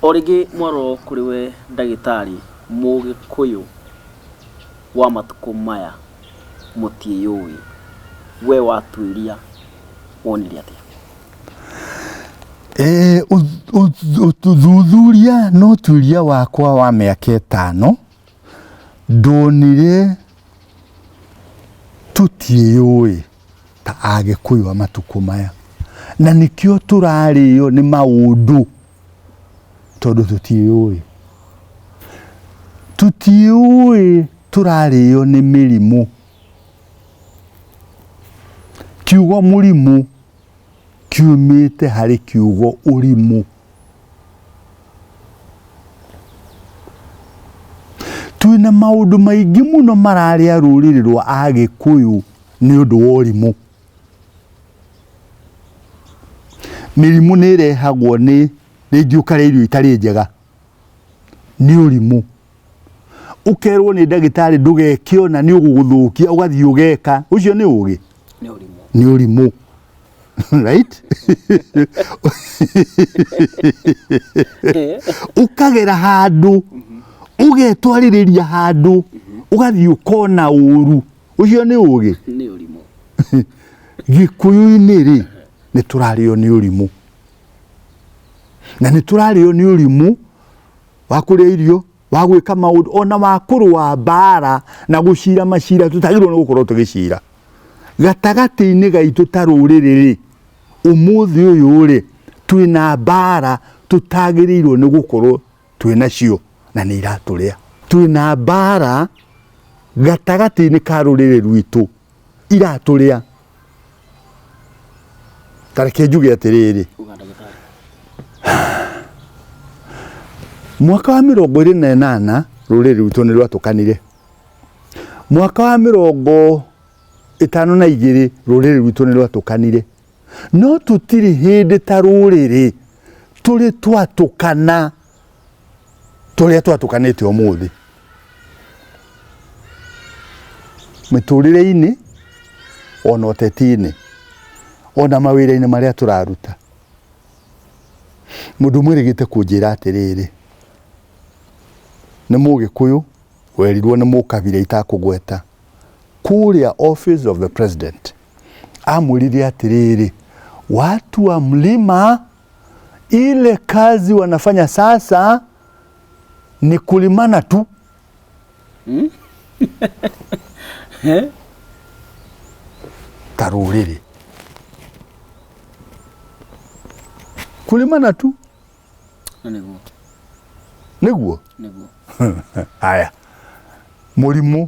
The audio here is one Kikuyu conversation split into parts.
O rĩngĩ mwarwo kũrĩ we ndagĩtarĩ mũgĩkũyũ wa matukũ maya mũtiĩyũĩ, we watuĩria wonire atĩa? Ũthuthuria na ũtuĩria wakwa wa mĩaka ĩtano Ndonire tũtiĩyũĩ ta agĩkũyũ a matukũ maya na nĩkĩo tũrarĩo nĩ maũndũ tondũ tũtiĩyũĩ. Tũtiĩyũĩ tũrarĩo nĩ mĩrimũ. Kiugo mũrimũ kiumĩte harĩ kiugo ũrimũ. twĩna maũndũ maingĩ mũno mararĩa rũrĩrĩ rwa agĩkũyũ nĩ ũndũ wa ũrimũ mĩrimũ nĩ ĩrehagwo nĩ rĩngĩ ũkarĩa irio itarĩ njega nĩ ũrimũ ũkerwo nĩ ndagĩtarĩ ndũgeke ũna nĩ ũgũgũthũkia ũgathiĩ ũgeka ũcio nĩ ũgĩ nĩ ũrimũ right ukagera handu ugetwaririria handu ugathii ukona uru ucio ni ugi nä å rimå gikuyu-inĩ rĩ nĩ tũrarĩo nĩ ũrimũ na nĩ tũrarĩo nĩ ũrimũ wa kũrĩa irio wa gwĩka maũndũ ona wa kũrũa mbaara na gũcira macira tũtagĩrĩirwo nĩ gũkorwo tũgĩcira gatagatĩ-inĩ gaitũ ta rũrĩrĩ-rĩ ũmũthĩ ũyũ-rĩ twĩ na mbaara tũtagĩrĩirwo nĩ gũkorwo twĩ nacio na nĩ iratũrĩa twĩ na mbaara gatagatĩ-inĩ ka rũrĩrĩ rwitũ iratũrĩa tareke njuge atĩrĩrĩ Uga ndagĩtarĩ. mwaka wa mĩrongo ĩrĩ na ĩnana rũrĩrĩ rwitũ nĩ rwatũkanire mwaka wa mĩrongo ĩtano na igĩrĩ rũrĩrĩ rwitũ nĩ rwatũkanire no tũtirĩ hĩndĩ ta rũrĩrĩ tũrĩ twatũkana tũrĩa twatũkanĩte ũmũthĩ mĩtũrĩre-inĩ ona ũteti-inĩ ona mawĩra-inĩ marĩa tũraruta mũndũ mwĩrĩgĩte kũnjĩra atĩrĩrĩ nĩ mũgĩkũyũ werirwo nĩ mũkabira itakũgweta kũrĩa office of the president amwĩrire atĩrĩrĩ watu wa mlima Ile kazi wanafanya sasa ni kulimana tu. Taruriri. Kulimana tu. Nĩguo, Nĩguo. nĩguo. Haya. Mũrimũ.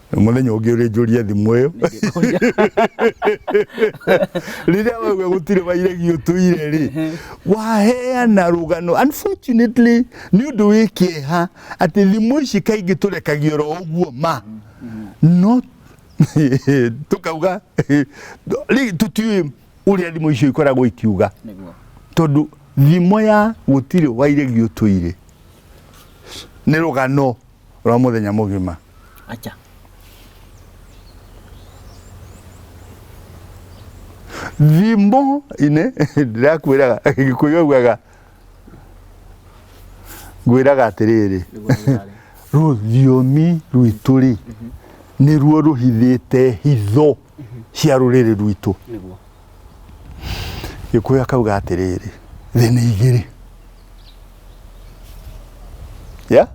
muthenya ungi uri njurie thimu iyo riria wauga gutire wairegi utuire ri waheana rugano unfortunately ni undu wi kieha ati thimu ici kaingi turekagio ro uguo ma no tukauga ri tutiui uria thimu icio ikoragwo ikiuga niguo tondu thimo ya gutire wairegi utuire ni rugano rwa mũthenya mũgima. Acha. Thimbo inĩ ndĩrakwĩraga gĩkũyũ augaga ngwĩraga atĩrĩrĩ rũthiomi rwitũ rĩ nĩruo rũhithĩte hitho cia rũrĩrĩ rwitũ. Nĩguo. gĩkũyũ akauga atĩrĩrĩ thĩ nĩ igĩrĩ ya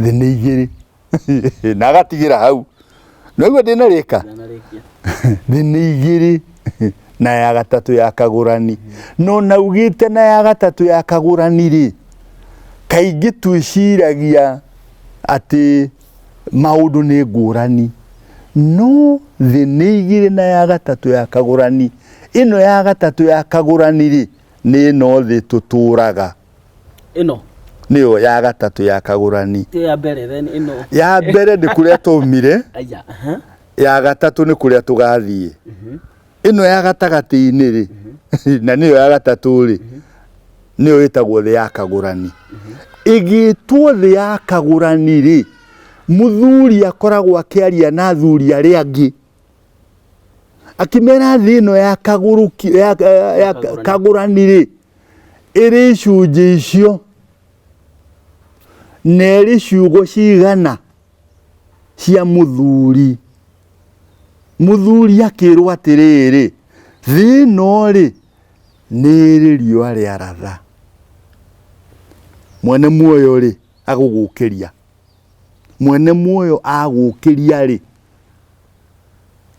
thĩ nĩ igĩrĩ na agatigĩra hau noguo ndĩna rĩka ndanarĩkia thĩ nĩ igĩrĩ na ya gatatũ ya kagũrani no naugĩte na ya gatatũ ya kagũrani rĩ kaingĩ twĩciragia atĩ maũndũ nĩ ngũrani no thĩ nĩ igĩrĩ na ya gatatũ ya kagũrani ĩno ya gatatũ ya kagũrani rĩ nĩ ĩno thĩ tũtũraga ĩno nĩyo ya gatatũ ya kagũrani ĩyo ya mbere then ĩno ya mbere nĩ kũrĩa twaumire aya aha ya gatatũ nĩ kũrĩa tũgathiĩ ĩno ya gatagatĩ-inĩ-rĩ na nĩyo ya gatatũ-rĩ nĩyo ĩtagwo thĩ ya kagũrani ĩgĩtwo thĩ ya kagũrani-rĩ mũthuri akoragwo akĩaria na athuri arĩa angĩ akĩmera thĩ ĩno ya kagũrũki ya, ya, ya kagũrani-rĩ ĩrĩ icunjĩ icio na ĩrĩ ciugo cigana cia mũthuri. Mũthuri akĩrwo atĩrĩrĩ, thĩ ĩno rĩ, nĩ ĩrĩ riũa rĩa ratha. Mwene muoyo rĩ, agũgũkĩria. Mwene muoyo agũkĩria rĩ,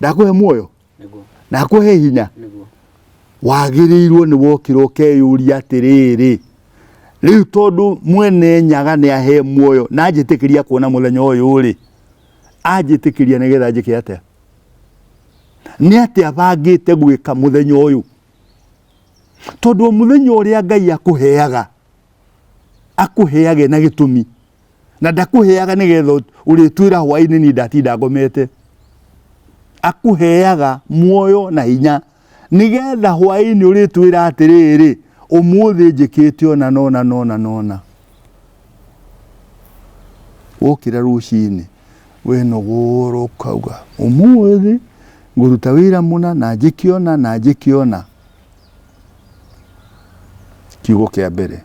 ndakũhe muoyo? na akũhe hinya wagĩrĩirwo nĩ wokĩra ũkeyũria atĩrĩrĩ rĩu tondũ mwene nyaga nĩ ahe muoyo na anjĩtĩkĩria kuona mũthenya ũyũ rĩ anjĩtĩkĩria nĩgetha njĩke atĩa nĩ atĩ abangĩte gwĩka mũthenya ũyũ tondũ mũthenya ũrĩa ngai akũheaga akũheage na gĩtũmi na ndakũheaga nĩgetha ũrĩtwĩra hwainĩ niĩ ndatinda ngomete akũheaga muoyo na hinya nĩgetha hwainĩ ũrĩtwĩra atĩrĩrĩ ũmũthĩ njĩkĩte ona nona nona nona wokĩra rũcinĩ wenogora ũkauga ũmũthĩ ngũruta wĩra mũna na njĩkĩona na njĩkĩona kiugo kĩa mbere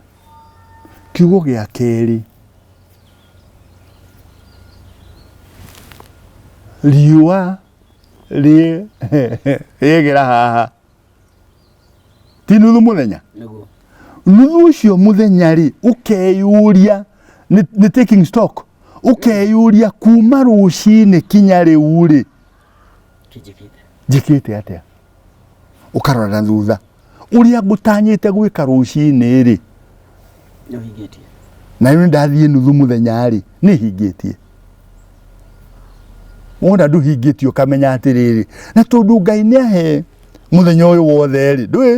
kiugo gĩa kerĩ riũa rĩ- rĩegera haha ti nuthu mũthenya nĩguo nuthu ũcio mũthenya rĩ ũkeyũria nĩ nĩ taking stock ũkeyũria kuma rũcinĩ kinya rĩu rĩ tũnjĩkĩte njĩkĩte atĩa ũkarora na thutha ũrĩa ngũtanyĩte gwĩka rũcinĩ-rĩ na rĩu ndathiĩ nuthu mũthenya-rĩ nĩ hingĩtie wona ndũhingĩtie ũkamenya atĩrĩrĩ na tondũ ngai nĩ ahe mũthenya ũyũ wothe-rĩ ndũĩ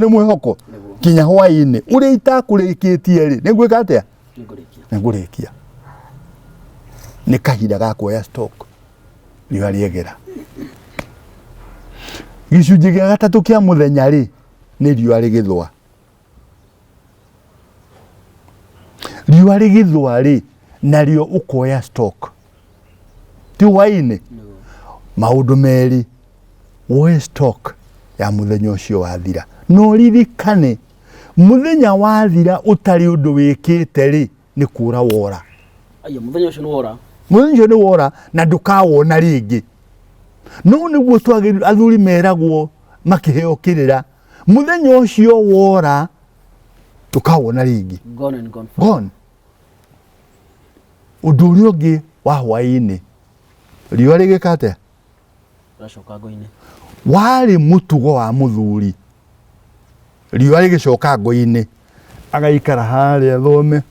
nĩ mwĩhoko kinya hwaĩ-inĩ ũrĩa itakũrĩkĩtie-rĩ nĩ ngwĩka atĩa nĩ ngũrĩkia nĩ kahinda ga kuoya stock riũa gicunjĩ gĩa gatatũ kĩa mũthenya rĩ nĩ riũa rĩgĩthũa riũa rĩgĩthũa rĩ narĩo ũkoya stock ti hwainĩ maũndũ merĩ woe stock ya mũthenya ũcio wathira no ririkane muthenya wathira utari undu wikite ri nĩ kũra wora ayo muthenya ucio ni wora muthenya ucio ni wora na ndukawona ringi no nĩguo twagĩrĩirwo athuri meragwo makĩheo kĩrĩra muthenya ucio wora ndukawona ringi gone and gone gone undu uria ungi wa hwaini riũa rĩgĩka atĩa Ũracoka ngoinĩ. warĩ mũtugo wa mũthuri riũa rĩgĩcoka ngũinĩ agaikara harĩa thome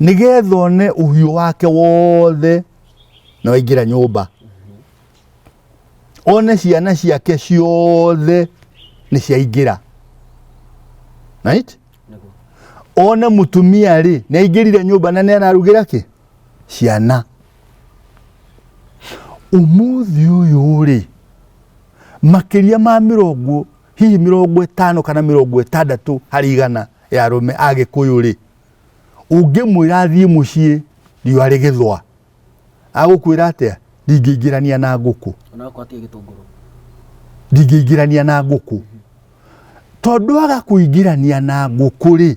nĩgetha one ũhiũ wake wothe na waingĩra nyũmba one ciana ciake ciothe nĩ ciaingĩra right? Nĩguo. one mũtumia rĩ nĩ aingĩrire nyũmba na nĩ ararugĩra kĩ ciana umuthi uyu ri makiria ma mirongo hihi mirongo itano kana mirongo itandatu hari igana ya rume agikuyu ri ungimwira athie mucii riua rigithwa agukwira atia ndingĩingĩrania na ngũkũ ndingĩingĩrania na ngũkũ tondũ aga kũingĩrania na ngũkũ rĩ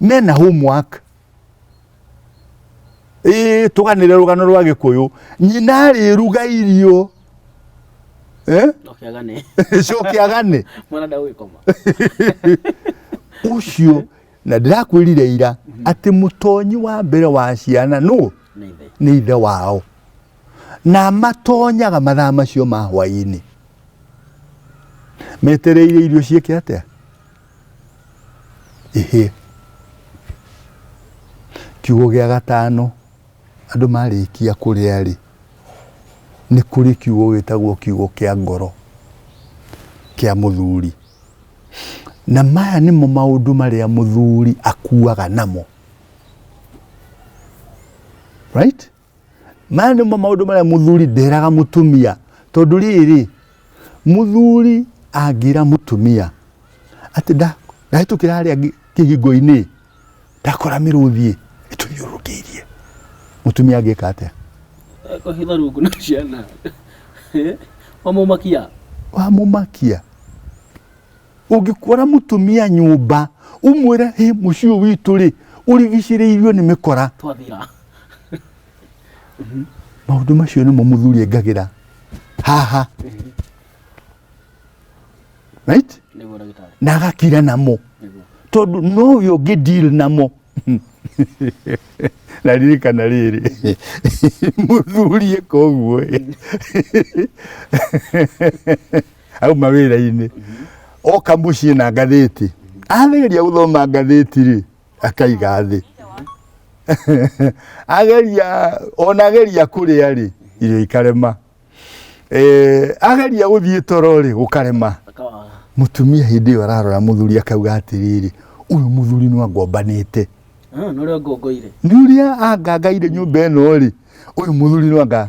mena homework ĩĩ tũganĩre rũgano rwa gĩkũyũ nyina arĩruga irio eh? Ndokĩagane. coke agane Mwana ndagũgĩkoma. ũcio na ndĩrakwĩrire ira atĩ mũtonyi wa mbere wa ciana nũ Nĩ ithe. nĩ ithe wao na matonyaga mathaa macio ma hwaĩ-inĩ metereire irio ciĩke atĩa ĩhĩe. Kiugo gĩa gatano, andũ marĩkia kũrĩa-rĩ, nĩ kũrĩ kiugo gĩtagwo kiugo kĩa ngoro kĩa mũthuri. Na maya nĩmo maũndũ marĩa mũthuri akuaga namo. Right? maya nĩmo maũndũ marĩa mũthuri nderaga mũtumia tondũ rĩrĩ mũthuri angĩra mũtumia atĩ ndahĩtũkĩra harĩa kĩhingo-inĩ ndakora mĩrũthiĩ ĩtũthiũrũkĩirie mũtumia angĩka atĩa kũhitha rungu na ciana wamũmakia wamũmakia Ũngĩkora mũtumia nyũmba ũmwĩre hĩ mũciĩ ũyũ witũ rĩ ũrigicĩrĩirio nĩ mĩkora. Twathira. Maũndũ macio nĩmo mũthuri engagĩra haha right? Nĩguo ndagĩtarĩ. na agakira namo Nĩguo. tondũ no ũyũ ũngĩ deal namo na ririkana rĩrĩ mũthuri eka ũguo ĩ. auma wĩra-inĩ oka mũciĩ na ngathĩti ageria gũthoma ngathĩti rĩ akaiga thĩ ageria ona ageria kũrĩa rĩ irio ikarema Eh, ageria gũthiĩ toro rĩ gũkarema Akawaga. mũtumia hĩndĩ ĩyo ararora mũthuri akauga atĩrĩrĩ ũyũ mũthuri nĩ angombanĩte Ah, nĩ ũrĩa ngongoire nĩ ũrĩa angangaire nyũmba ĩno rĩ ũyũ mũthuri nĩ anga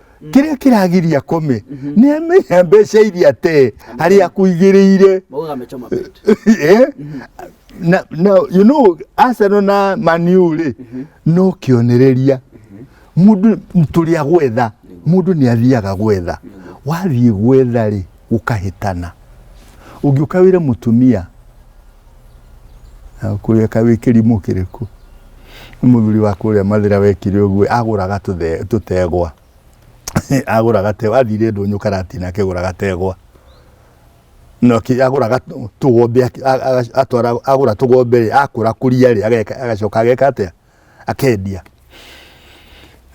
kĩrĩa kĩragiria kũmĩ nĩ amenya mbeca iria te harĩa kũigĩrĩire Maugaga amechoma bet. Eh? na, na you know Arsenal na Man U rĩ no kĩonereria mũndũ tũrĩa gwetha mũndũ nĩ athiaga gwetha wathiĩ gwetha rĩ ũkahĩtana ũngĩũka wĩre mũtumia kũrĩa kawĩ kĩrimũ kĩrĩkũ nĩ mũthuri wa kũrĩa mathĩra wekire ũguo agũraga tũtegwa agũra gategwa athire ndũnyũ karati na akĩgũra gategwa no agũra tũgombe atwara agũra tũgombe rĩ akũra kũria rĩ agacoka ageka atĩa akendia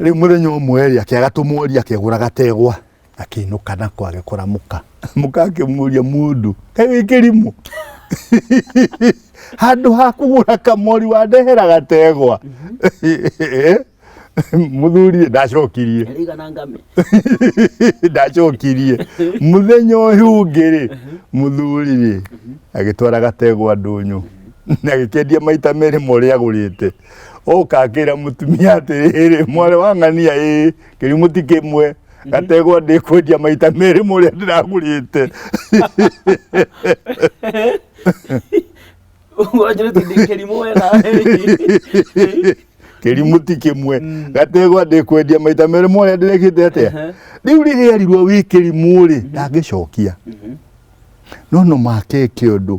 rĩu mũthenya ũmwe rĩ akĩaga tũmworia akĩgũra gategwa akĩinũka nako agĩkora mũka mũka akĩmũria mũndũ kaĩ wĩ kĩrimũ handũ ha kũgũra kamori wandehera gategwa mũthuri ndacokirie Ĩigana ngame. ndacokirie mũthenya ũyũ ũngĩ rĩ mũthuri rĩ agĩtwara gategwa ndũnyũ na agĩkendia maita merĩ ma ũrĩa agũrĩte oka akĩra mũtumia atĩrĩrĩ mwarĩ wa ng'ania ĩ kĩrimũ ti kĩmwe gategwa ndikwendia maita merĩ mũrĩa ndĩragũrĩte wanjĩrĩte ndĩ kĩrimũ wega kĩrimũ ti kĩmwe gategwa ndikwendia maita merĩ mũrĩa ndĩrekĩte atĩa Ehe. rĩu rĩrĩa erirwo wĩ kĩrimũ rĩ ndangĩcokia no no make eke ũndũ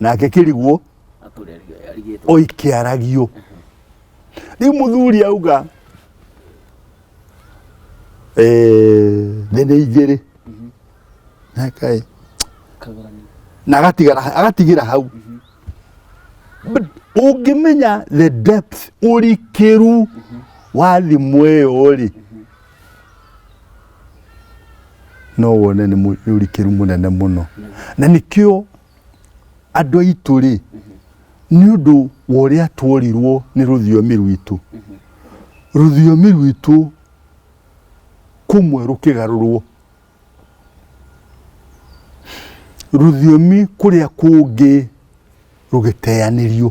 nake kĩrigwo oi kĩaragio rĩu mũthuri auga eh, thĩ nĩ igĩrĩ nakaĩ na agatigara agatigĩra hau But ũngĩmenya the depth ũrikĩru wa thimũ ĩyo rĩ no wone nĩ mũ- nĩ ũrikĩru mũnene mũno na nĩkĩo andũ aitũ rĩ nĩ ũndũ wa ũrĩa tworirwo nĩ rũthiomi rwitũ rũthiomi rwitũ kũmwe rũkĩgarũrwo rũthiomi kũrĩa kũngĩ rũgĩteanĩrio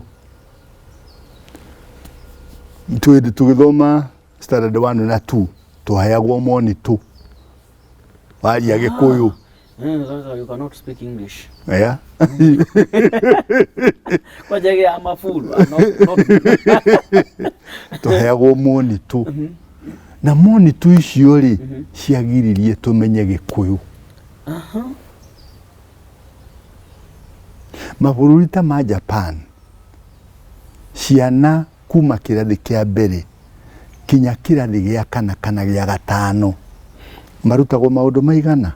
tũgĩthoma standard 1 na 2 twaheagwo monito waria gikuyu Eh, sasa you cannot speak English. yeah. Kwa jage ya mafulu. Not, not twaheagwo monito na monito icio rĩ ciagiririe tũmenye gĩkũyũ mabũrũri ta ma japan ciana kuma kĩrathi kĩa mbere kinya kĩrathi gĩa kana kana gĩa gatano marutagwo maũndũ maigana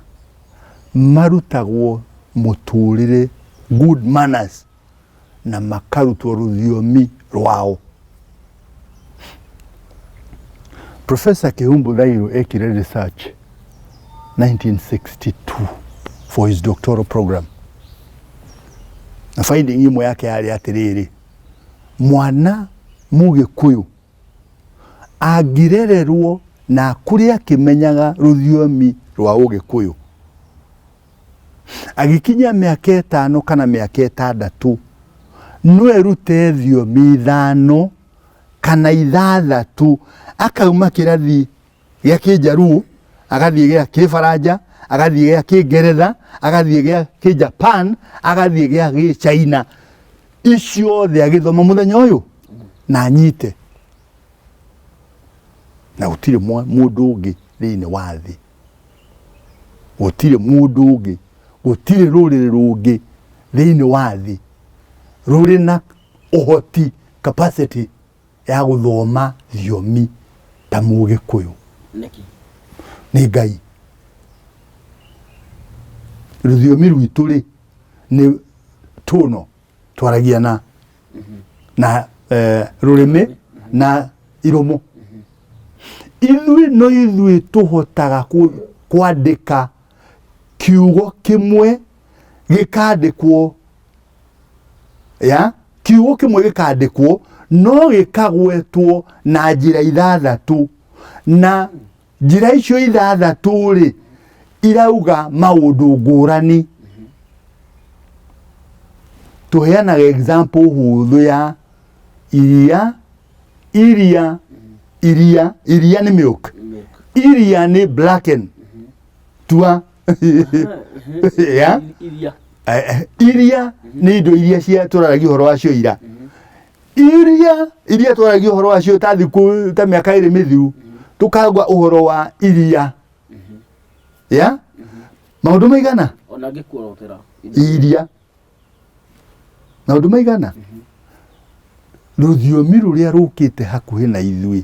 marutagwo mũtũrĩre good manners na makarutwo rũthiomi rwao Professor Kihumbu Thairo ekire research 1962 for his doctoral program na finding imwe yake yarĩ atĩrĩrĩ mwana mũgĩkũyũ angĩrererwo na akũrĩ akĩmenyaga rũthiomi rwa ũgĩkũyũ agĩkinyia mĩaka ĩtano kana mĩaka ĩtandatũ no erute thiomi ithano kana ithathatũ akauma kĩrathi gĩa kĩnjaruo agathiĩ gĩa kĩbaranja agathiĩ gĩa kĩngeretha agathiĩ gĩa kĩjapan agathiĩ gĩa gĩchaina iciothe agĩthoma mũthenya ũyũ na anyite na gũtirĩ mwa- mũndũ ũngĩ thĩinĩ wa thĩ gũtirĩ mũndũ ũngĩ gũtirĩ rũrĩrĩ rũngĩ thĩinĩ wa thĩ rũrĩ na ũhoti capacity ya gũthoma thiomi ta mũgĩkũyũ nĩkĩ nĩ ngai rũthiomi rwitũ rĩ nĩ tũno twaragia na na eh, rũrĩmĩ na iromo ithuĩ no ithuĩ tũhotaga kũ- kwandĩka kiugo kĩmwe gĩkandĩkwo ya kiugo kĩmwe gĩkandĩkwo no gĩkagwetwo na njĩra ithathatũ na njĩra icio ithathatũ rĩ irauga maũndũ ngũrani tũheanaga example hũthũ ya iria iria iria iria nĩ milk iria nĩ blacken tua Yeah. iria Eh, eh, iria nĩ indo iria cia twararagia ũhoro wacio ira iria iria twararagia ũhoro wacio ta thikũ ta mĩaka ĩrĩ mĩthiru tũkagwa ũhoro wa iria ya maũndũ maigana ona ngĩkuorotera iria na ũndũ maigana rũthiomi rũrĩa rũkĩte hakuhĩ na ithuĩ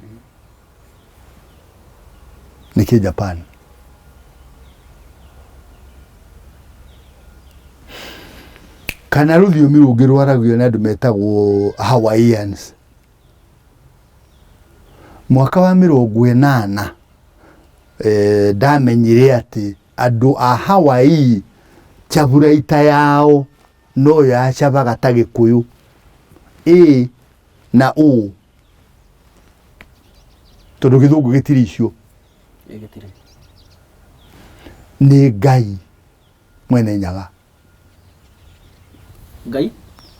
nĩ kĩ japan kana rũthiomi rũngĩ rwaragio nĩ andũ metagwo hawaiians mwaka wa mĩrongo ĩnana eh, ndamenyire atĩ Andũ a Hawaii cavuraita yao no yo yacavaga ta Gĩkũyũ. Ĩĩ na ũũ tondũ Gĩthũngũ gĩtirĩ icio. Nĩ Ngai mwene nyaga. Ngai?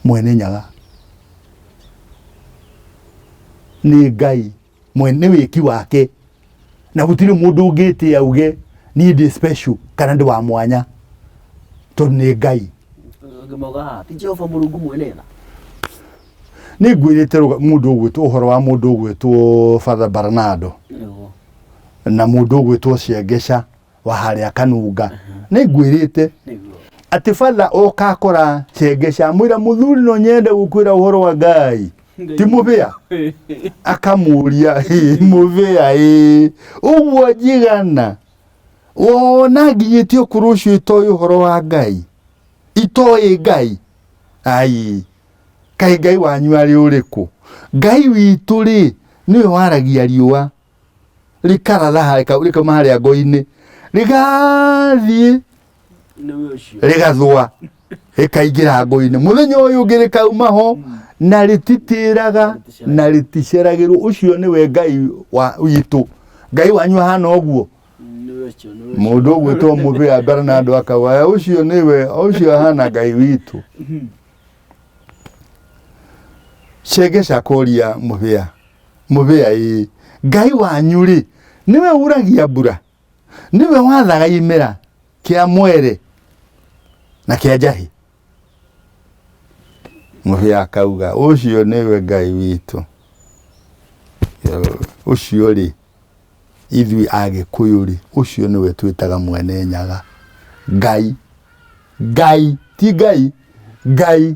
Mwene nyaga. Nĩ Ngai. mwene wĩki wake na gũtirĩ mũndũ ũngĩtĩa auge niĩ ndĩ special kana ndĩ wa mwanya tondũ nĩ ngai Angĩ mauga haha ti Jehova Mũrungu mwene tha. nĩ ngwĩrĩte rũga- mũndũ ũgwĩtwo ũhoro wa mũndũ ũgwĩtwo father baranado Nĩguo. na mũndũ ũgwĩtwo ciengeca wa harĩa kanunga nĩ ngwĩrĩte nĩguo atĩ batha oka akora cenge cia mwĩra mũthuri no nyende gũkwĩra ũhoro wa ngai ti mũbĩa akamũria "Ĩ, mũbĩa ĩ ũguo njigana wona nginyĩtie ũkũrũ ũcio itoĩ ũhoro wa ngai itoĩ ngai ai kaĩ ngai wanyu arĩ ũrĩkũ ngai witũ rĩ nĩwe waragia riũa rĩkararaha rĩka- rĩkauma harĩa ngo-inĩ rĩgathiĩ nĩwe ũcio rĩgathũa rĩkaingĩra ngo-inĩ mũthenya ũyũ ũngĩ rĩkauma ho na rĩtitĩraga na rĩticeragĩrwo ũcio nĩwe ngai wa witũ ngai wanyu ahana ũguo nĩwe ũcio nĩwe ũcio mũndũ ũgwĩtwo mũbĩa mbere na andũ akawaya ũcio nĩwe ũcio ahana ngai witũ cengeca kũria mũbĩa Mũbĩa ĩĩ! Ngai wanyu-rĩ, nĩwe ũuragia mbura, nĩwe wathaga imera kĩa mwere na kĩa njahĩ. Mũbĩa akauga, ũcio nĩwe Ngai witũ. Ũcio-rĩ, ithuĩ Agĩkũyũ-rĩ, ũcio nĩwe twĩtaga Mwene Nyaga. Ngai, Ngai, ti Ngai, Ngai.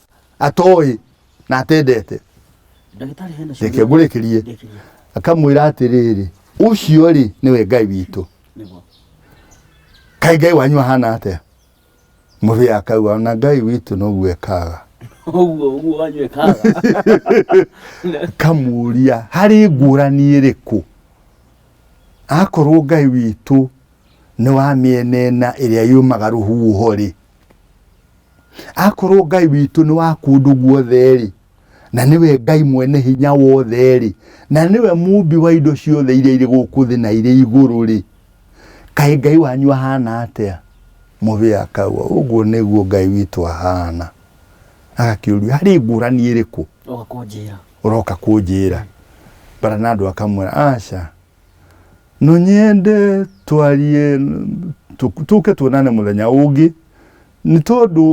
atoĩ na atendete ndagĩtarĩ hena reke ciũria ngũrĩkĩrie ndĩkĩria akamwĩra atĩrĩrĩ ũcio rĩ nĩwe ngai witũ nĩguo kaĩ ngai wanyu ahana atĩa mũthĩ akauga ona ngai witũ noguo ekaga ũguo ũguo wanyu ekaga kamuria harĩ ngũrani ĩrĩkũ akorwo ngai witũ nĩ wa mĩena ĩna ĩrĩa yumaga rũhuho rĩ akorwo ngai witũ nĩ wa kũndũ guothe-rĩ na nĩwe ngai mwene hinya wothe-rĩ na nĩwe mumbi wa indo ciothe iria irĩ gũkũ thĩ na irĩ igũrũ-rĩ kaĩ ngai wanyu ahana atĩa mũbĩa akaua ũguo nĩguo ngai witũ ahana agakĩũria harĩ ngũrani ĩrĩkũ ũroka kũnjĩra bara na andũ akamwĩra aca no nyende twarie tũ- tũke tuonane mũthenya ũngĩ nĩ tondũ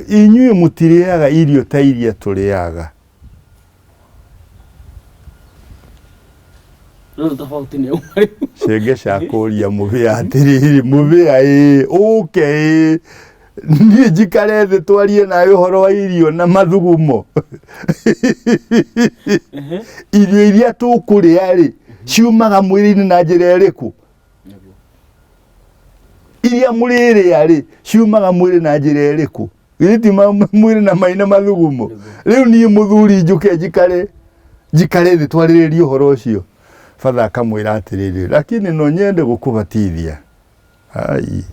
eh, inyuĩ mũtirĩaga irio ta iria tũrĩaga Rĩu tofauti nĩ ũmwe rĩu. cenge cakũria mũbĩa atĩrĩrĩ mũbĩa ĩ ũke ĩ niĩ njikare thĩ twarie nawe ũhoro wa irio na mathugumo Ehe. irio iria tũkũrĩa rĩ ciumaga mwĩrĩ-inĩ na njĩra ĩrĩkũ Nĩguo. iria mũrĩrĩa rĩ ciumaga mwĩrĩ na njĩra ĩrĩkũ githĩ ti ma- mwĩrĩ na mai na mathugumo rĩu niĩ mũthuri njũke njikare njikare thĩ twarĩrĩrie ũhoro ũcio batha akamwĩra atĩrĩrĩ lakini no nyende gũkũbatithia Ai.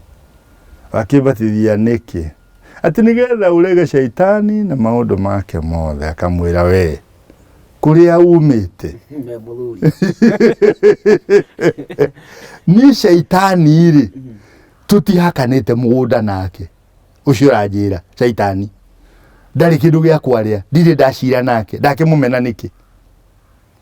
Wakĩbatithia nĩkĩ? Atĩ nĩgetha ũrege shaitani na maũndũ make mothe akamwĩra we kũrĩa umĩte Me mũthuri. niĩ shaitani rĩ tũtihakanĩte mũgũnda nake ũcio ũranjĩra shaitani ndarĩ kĩndũ gĩa kwarĩa ndirĩ ndacira nake ndakĩmũmena nĩkĩ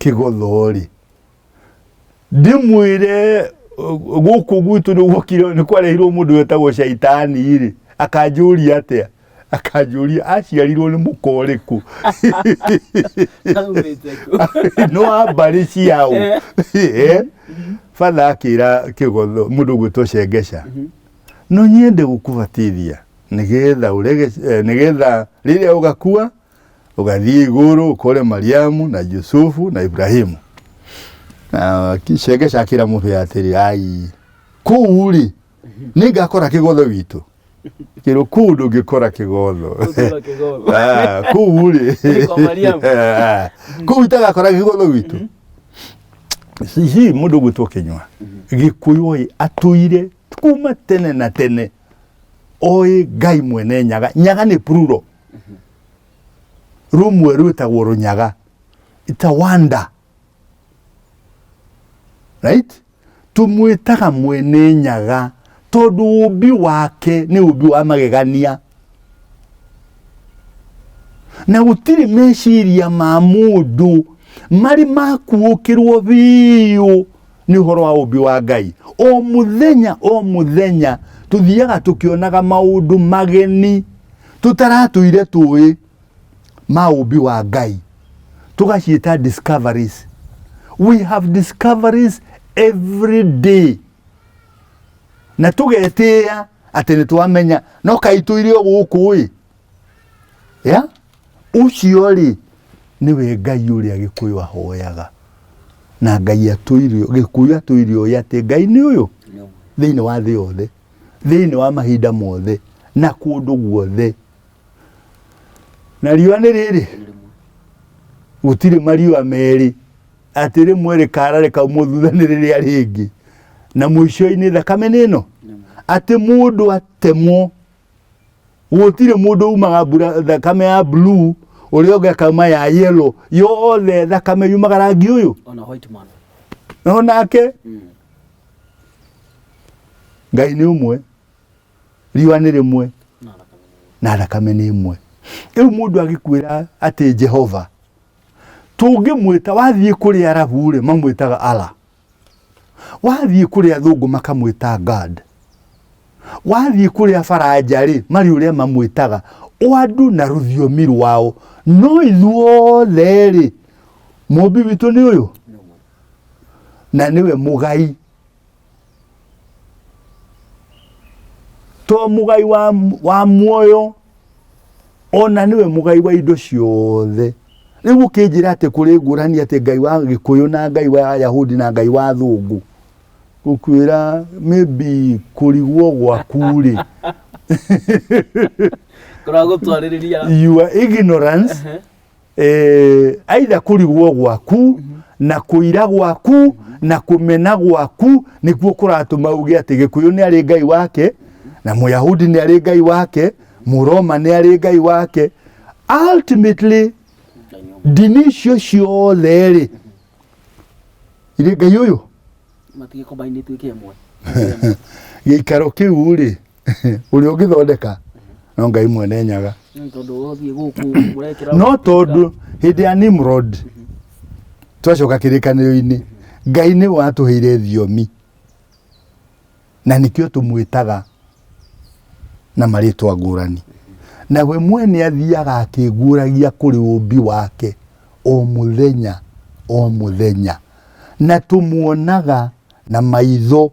kĩgothorĩ ndĩmwĩre uh, gũkũ gwitũ nĩ gwokire nĩ kwareirwo mũndũ wetagwo caitani rĩ akanjũria atĩa akanjũria aciarirwo nĩ mũka ũrĩkũ Aumĩte kũ? nĩ wa mbarĩ ciao Eh. Eh. batha akĩra kĩgotho mũndũ gwĩtwo cengeca no nyende gũkũbatithia nĩgetha ũrege eh, nĩgetha rĩrĩa ũgakua Ũgathiĩ igũrũ ũkore Mariamu na Yusufu na Ibrahimu. Na akĩcengeca akĩra mũndũ ya atĩrĩ, ai kũu rĩ nĩ ngakora kĩgotho witũ kĩrũ kũu ndũngĩkora kĩgotho Ũtũra kĩgotho. Ah, kũu rĩ Nĩ kwa Mariamu. Ah, kũu itagakora kĩgotho witũ hihi mũndũ gwĩtwo kĩnywa gĩkũyũ ĩ atũire kuma tene na tene oĩ ngai mwene nyaga nyaga nĩ pruro rumwe rwĩtagwo rũnyaga it's a wonder right tũmwĩtaga mwene nyaga tondũ ũmbi wake nĩ ũmbi wa magegania na gũtirĩ meciria ma mũndũ marĩ makuũkĩrwo biũ nĩ ũhoro wa ũmbi wa ngai o mũthenya o mũthenya tũthiaga tũkĩonaga maũndũ mageni tũtaratũire tũĩ ma ũmbi wa ngai tũgaciĩta discoveries we have discoveries every day na tũgetĩa atĩ nĩ twamenya no kaitũire o gũkũ ĩ yeah? Ũcio-rĩ, nĩwe Ngai ũrĩa Gĩkũyũ ahoyaga. Na Ngai atwĩire, Gĩkũyũ atwĩire ũĩ atĩ Ngai nĩ ũyũ thĩinĩ wa thĩ yothe, thĩinĩ wa mahinda mothe, na kũndũ guothe. Na riũa nĩ rĩrĩ, gũtirĩ mariũa merĩ, atĩ rĩmwe rĩkara rĩkaumwo thutha nĩ rĩrĩa rĩngĩ. Na mũico-inĩ thakame nĩ ĩno, atĩ mũndũ atemwo gũtirĩ mũndũ umaga mbura thakame ya blue ũrĩa ũngĩ akauma ya yellow yothe thakame yumaga rangi ũyũ ona white man no nake mm. ngai nĩ ũmwe riũa nĩ rĩmwe na thakame na thakame nĩ ĩmwe rĩu mũndũ agĩkwĩra atĩ jehova tũngĩmwĩta wathiĩ kũrĩ arabu rĩ mamwĩtaga ala wathiĩ kũrĩ athũngũ makamwĩta God wathiĩ kũrĩ abaranja rĩ marĩ ũrĩa mamwĩtaga oandu na rũthiomi rwao no ithuothe rĩ mũmbi witũ nĩ ũyũ na nĩwe mũgai to mũgai wa, wa muoyo ona nĩwe mũgai wa indo ciothe rĩu ũkĩnjĩra atĩ kũrĩ ngũrani atĩ ngai wa gĩkũyũ na ngai wa ayahudi na ngai wa thũngũ gũkwĩra maybe kũrigwo gwaku rĩ kũragũtwarĩrĩria your ignorance eh, aitha kũrigwo gwaku na kũira gwaku na kũmena gwaku nĩkuo kũratũma uge atĩ gĩkũyũ nĩ arĩ ngai wake na mũyahudi nĩ arĩ ngai wake mũroma nĩ arĩ ngai wake ultimately ndini icio ciothe rĩ irĩ ngai ũyũ matige kombainĩtwo ike ĩmwe gĩikaro kĩu rĩ ũrĩa ũngĩthondeka no ngai mwene nyaga Nĩ tondũ wothiĩ gũkũ mũrekĩra no tondũ hĩndĩ ya nimrod twacoka kĩrĩkanĩro-inĩ ngai nĩ watũheire thiomi na nĩkĩo tũmwĩtaga na marĩtwa ngũrani na we mwene athiaga akĩngũragia kũrĩ ũmbi wake o mũthenya o mũthenya na tũmuonaga na maitho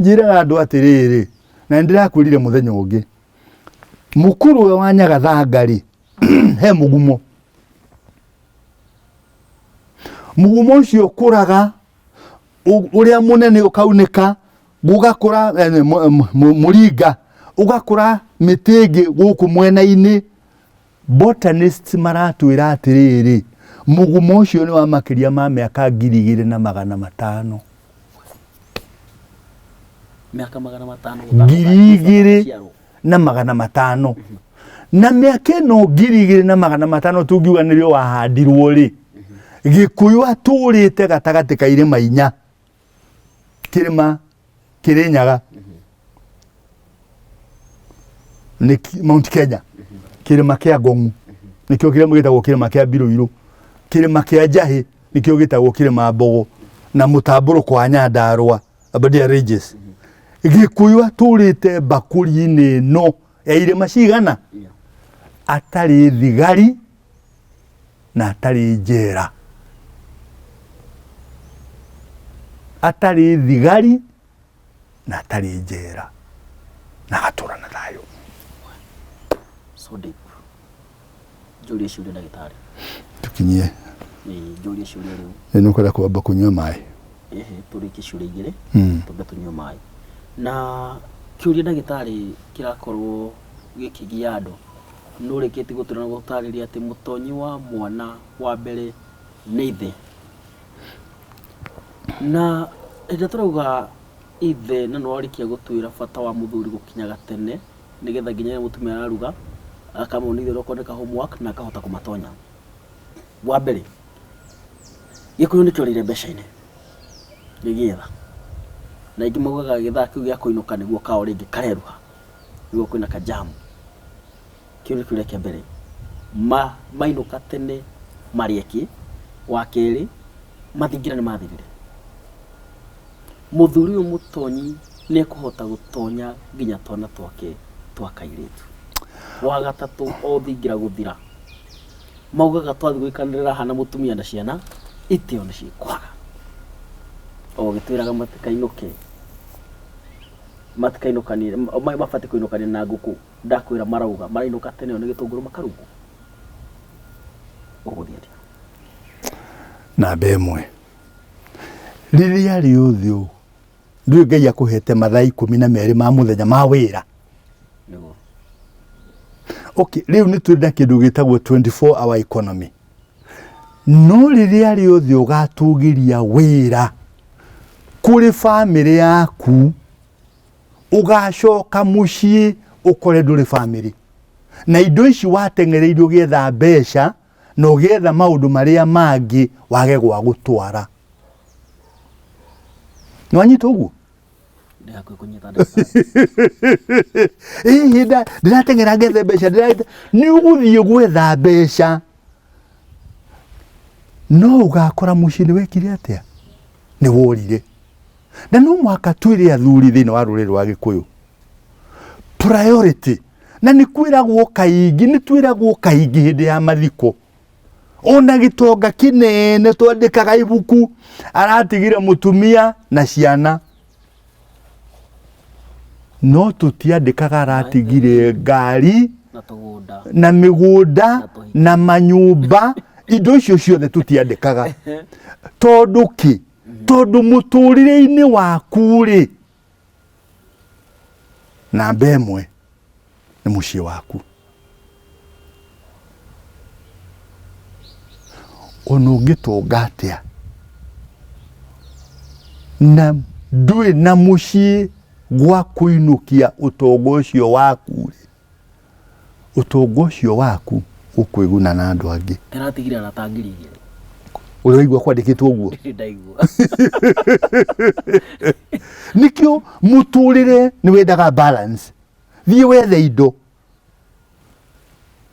Njĩraga andũ atĩrĩrĩ, na nĩndĩrakwĩrire mũthenya ũngĩ, mũkuru ũyũ wa nyagathanga-rĩ, he mũgumo. Mũgumo ũcio ũkũraga, ũrĩa mũnene ũkaunĩka, gũgakũra eh, mũringa, ũgakũra mĩtĩ ĩngĩ gũkũ mwena-inĩ, Botanists maratwĩra atĩrĩrĩ, mũgumo ũcio nĩ wa makĩria ma mĩaka ngiri igĩrĩ na magana matano. Mĩaka magana matano. Ngiri igĩrĩ na magana matano. Na mĩaka ĩno ngiri igĩrĩ na magana matano tũngiuga nĩrĩo wahandirwo rĩ, Gĩkũyũ atũrĩte gatagatĩ ka irĩma inya. kĩrĩma kĩrĩ nyaga nĩ ki- mount kenya kĩrĩma kĩa ngong'u nĩkĩo kĩrĩma gĩtagwo kĩrĩma kĩa mbirũirũ kĩrĩma kĩa njahĩ nĩkĩo gĩtagwo kĩrĩma mbogo na mũtambũrũko wa nyandarũa abadia ranges gĩkũyũ atũrĩte mbakũri-inĩ ĩno ya irĩma cigana atarĩ thigari na atarĩ njera atarĩ thigari na atarĩ njera na agatũra na thayũ so deep njũrie ciũria ndagĩtarĩ tũkinyie njũrie ciũria rĩu nĩ ũkwenda kwamba kũnyua maĩ ehe tũrĩkie ciũria igĩrĩ hmm. twambe tũnyue maĩ na kĩũria ndagĩtarĩ kĩrakorwo gĩkĩgia andũ Nũrĩkĩti gũtwĩra na gũtarĩria atĩ mũtonyi wa mwana wa mbere nĩ ithe. Na hĩndĩ ĩrĩa tũrauga ithe na nĩwarĩkia gũtwĩra bata wa mũthuri gũkinyaga tene nĩgetha nginya rĩrĩa mũtumia araruga akamonithia onokorwo nĩ ka homework na akahota kũmatonya. Wa mbere, gĩkũyũ nĩkĩorĩire mbeca-inĩ gĩgĩetha, na aingĩ maugaga gĩthaa kĩu gĩa kũinũka nĩguo kao rĩngĩ kareruha. nĩguo kwĩna ka jam. Kĩu nĩ kĩũria kĩa mbere. Ma, mainũka tene marĩe kĩ? Wa kerĩ, mathingira nĩ mathirire. Mũthuri ũyũ mũtonyi nĩ ekũhota gũtonya nginya twana twake twa kairĩtu. Wa gatatũ, o thingira gũthira, maugaga twathiĩ gũikanĩrĩra haha na mũtumia na ciana, itĩo nĩ ciĩkwaga. O ũgĩtwĩraga matikainũke. matikainũkanie ma- ma- mabatiĩ kũinũkania na ngũkũ ndakwĩra marauga marainũka tene ĩyo nĩ gĩtũngũrũ makarugwo ũgũthiĩ atĩa namba ĩmwe rĩrĩa rĩothe ũũ ndiũ ngai akũhete mathaa ikũmi na merĩ ma mũthenya ma wĩra nĩguo okay rĩu nĩ twenda kĩndũ gĩtagwo 24 hour economy no rĩrĩa rĩothe ũgatũgĩria wĩra kũrĩ bamĩrĩ yaku ũgacoka mũciĩ ũkore ndũrĩ bamĩrĩ na indo ici wateng'ereire ũgĩetha mbeca na ũgĩetha maũndũ marĩa mangĩ wage gwa gũtwara. Nĩwanyita ũguo? ndakwĩkũnyita hihi nda- ndĩrateng'era ngethe mbeca ndĩra- nĩ ũgũthiĩ gwetha mbeca no ũgakora mũciĩ nĩ wekire atĩa nĩ worire na no mũhaka twĩre athuri thĩinĩ wa rũrĩrĩ rwa gĩkũyũ priority na nĩ kwĩragwo kaingĩ nĩ twĩragwo kaingĩ hĩndĩ ya mathiko ona gĩtonga kĩnene twandĩkaga ibuku aratigire mũtumia na ciana no tũtiandĩkaga aratigire ngari na tũgũnda na mĩgũnda na manyũmba indo icio ciothe tũtiandĩkaga tondũ kĩ tondũ mũtũrĩre-inĩ waku rĩ namba ĩmwe nĩ mũciĩ waku ona ũngĩtũnga atĩa na ndũĩ na mũciĩ gwa kũinũkia ũtonga ũcio waku rĩ Ũtonga ũcio waku ũkwĩguna na andũ angĩ. Ndĩratigire arata ngiri igĩrĩ. Ũraigua kwandĩkĩtwo ũguo? Ndaigua. Nĩkĩo mũtũrĩre nĩ wendaga balance. Thiĩ wethe indo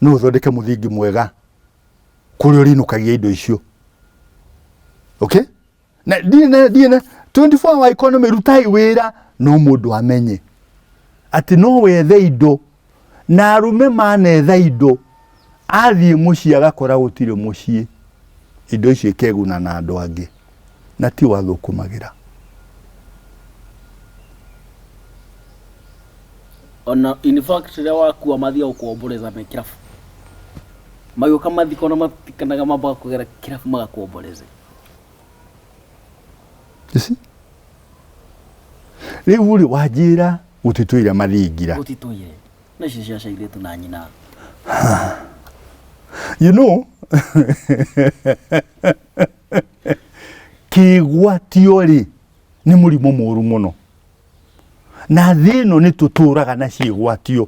no ũthondeke mũthingi mwega kũrĩa ũrĩinũkagia indo icio. Okay? na ndirĩ na ndirĩ na 24 hour economy rutai wĩra no mũndũ amenye atĩ no wethe indo na arume manetha indo athiĩ mũciĩ agakora gũtirĩ mũciĩ indo icio ikeguna na andũ angĩ na ti wathũkũmagĩra ona in fact rĩrĩa wakua mathiaga gũkomboreza me kĩrabu magĩũka mathiko na matikanaga mambaga kũgera kĩrabu magakomboreze rä u rä wanjä ra gå titå ira mathingira gutitwire no icio cia cairĩtu na nyina you know kĩgwatio rĩ nĩ mũrimũ mũru mũno na thĩ ĩno nĩ tũtũraga na ciĩgwatio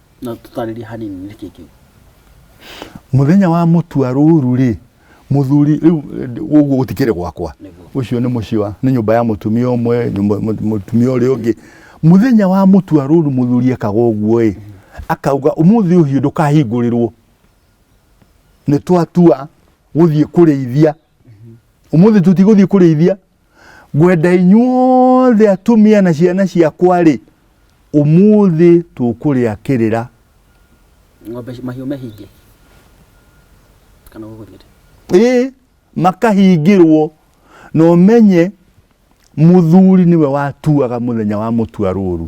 na tũtarĩrie hanini nĩ kĩĩ kĩu muthenya wa mutua ruru ri muthuri riu uguo gutikire gwakwa ucio ni mucii wa ni nyumba ya mutumia umwe mutumia uri ungi muthenya wa mutua ruru muthuri ekaga uguo i akauga umuthi uhiu ndukahingurirwo ni twatua guthie kurithia umuthi tutiguthii kurithia ngwenda inyuothe atumia na ciana ciakwa ri umuthi tukuria kirira ng'ombe mahiũ mehinge kana gũgũthiĩte ĩ makahingĩrwo na ũmenye mũthuri nĩwe watuaga mũthenya wa mũtua rũru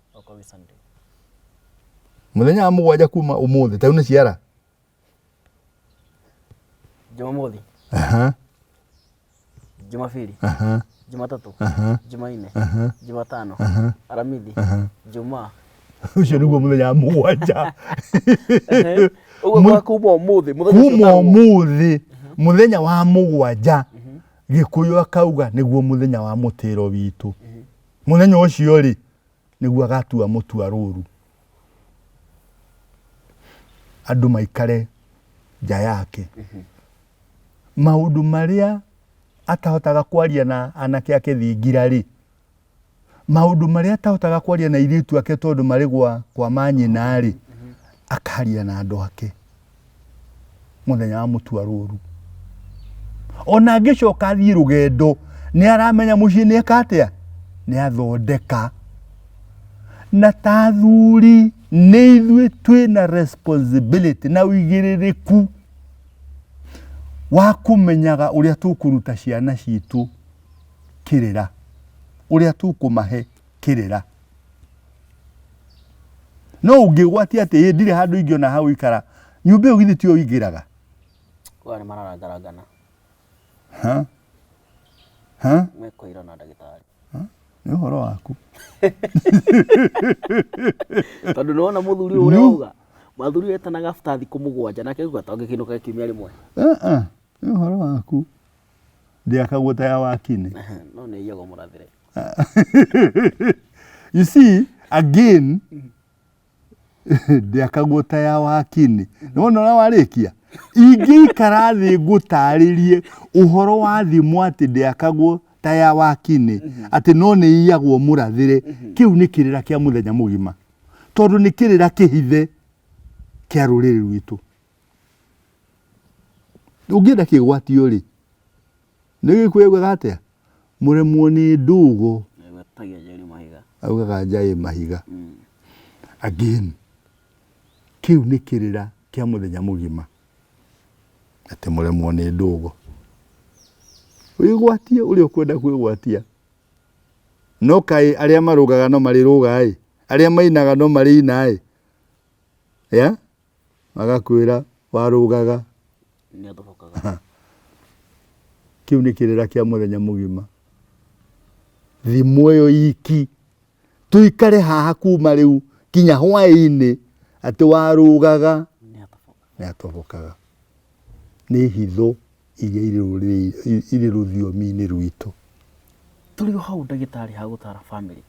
Oka wi Sunday. muthenya wa mugwanja kuma umuthi tau ni ciara Jumamothi, aha Jumapili, aha Jumatatu, aha Jumaine, aha Jumatano, aha Aramithi, aha Jumaa. ucio niguo muthenya wa mugwanja Ehe. Ũguo Mu- kwa kuma ũmũthĩ. mũthenya ũcio kuma ũtarwo. umuthi muthenya wa mugwanja gikuyu akauga niguo muthenya wa mutiro witu Mũthenya ũcio-rĩ, nĩguo agatua mũtua rũru. Andũ maikare nja yake. Maũndũ marĩa atahotaga kwaria na anake ake thingira-rĩ, maũndũ marĩa atahotaga kwaria na airĩtu ake tondũ marĩ gwa kwa manyina-rĩ, akaria na andũ ake. muthenya wa mutua ruru ona angicoka athii rugendo ni aramenya mucii ni eka atia ni athondeka na ta athuri ni ithui twi na responsibility na uigiririku wa kumenyaga uria tukuruta ciana citu kirira uria tukumahe kĩrĩra no ũngĩgwatia atĩ ĩ ndirĩ handũ ingĩona ha gũikara nyũmba ĩyo githĩ tiyo ingĩraga Kwa nĩ mararangarangana. Ha? Ha? Mekũira na ndagĩtarĩ. nĩ ũhoro waku Tondũ nĩwona mũthuri ũyũ ũrĩa Nyu. auga. Mũthuri ũyũ etanaga after thikũ mũgwanja nake auga tangĩkĩinũka kiumia rĩmwe. Ah, ah, nĩ ũhoro waku ndĩakagwo ta ya wakinĩ no nä iyagwo må rathä re you see again ndĩakagwo ta ya wakinĩ nĩ wona ũrĩa warĩkia ingĩikara thĩ ngũtarĩrie ũhoro wa thimũ atĩ ndĩakagwo ta ya wakinĩ atĩ no nĩ iyagwo mũrathĩre kĩu nĩ kĩrĩra kĩa mũthenya mũgima tondũ nĩ kĩrĩra kĩhithe kĩa rũrĩrĩ rwitũ Ũngĩenda kĩgwatio rĩ, nĩ gĩkuũ augaga atĩa? Mũremwo nĩ ndũgũ. Augaga njaĩ mahiga. Mm. Again, kĩu nĩ kĩrĩra kĩa mũthenya mũgima. Atĩ mũremwo nĩ ndũgũ. Wĩgwatie ũrĩa ũkwenda kwĩgwatia. No kaĩ arĩa marũgaga no marĩrũga-ĩ. Arĩa mainaga no marĩina-ĩ. Yeah? agakwĩra warũgaga kĩu nĩ kĩrĩra kĩa mũthenya mũgima thimũ ĩyo iki tũikare haha kuma rĩu kinya hwaĩ-inĩ atĩ warũgaga nĩ atobokaga nĩ hitho iria irĩ rũrĩrĩ- irĩ rũthiomi-inĩ rwitũ. Tũrĩ o hau ndagĩtarĩ ha gũtaara famĩlĩ,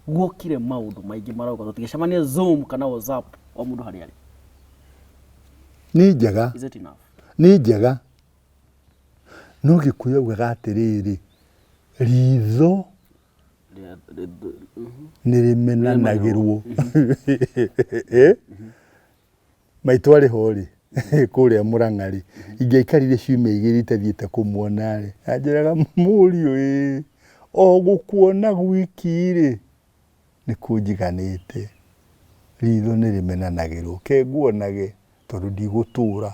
guokire maũndũ maingĩ marauga tũtigĩcemanie Zoom kana WhatsApp o mũndũ harĩa arĩ. Nĩ njega, Is it enough? nĩ njega. No Gĩkũyũ augaga atĩrĩrĩ, ritho Rĩa- rĩ- rĩ- mhm. nĩ rĩmenanagĩrwo. Eh? Maitũ arĩ ho rĩ, kũrĩa Mũrang'a rĩ, ingĩaikarire ciumia igĩrĩ itathiĩte kũmuona rĩ, anjĩraga mũriũ ĩ, o gũkuona gwiki rĩ, nĩ kũnjiganĩte. Ritho nĩ rĩmenanagĩrwo, ke nguonage tondũ ndigũtũra.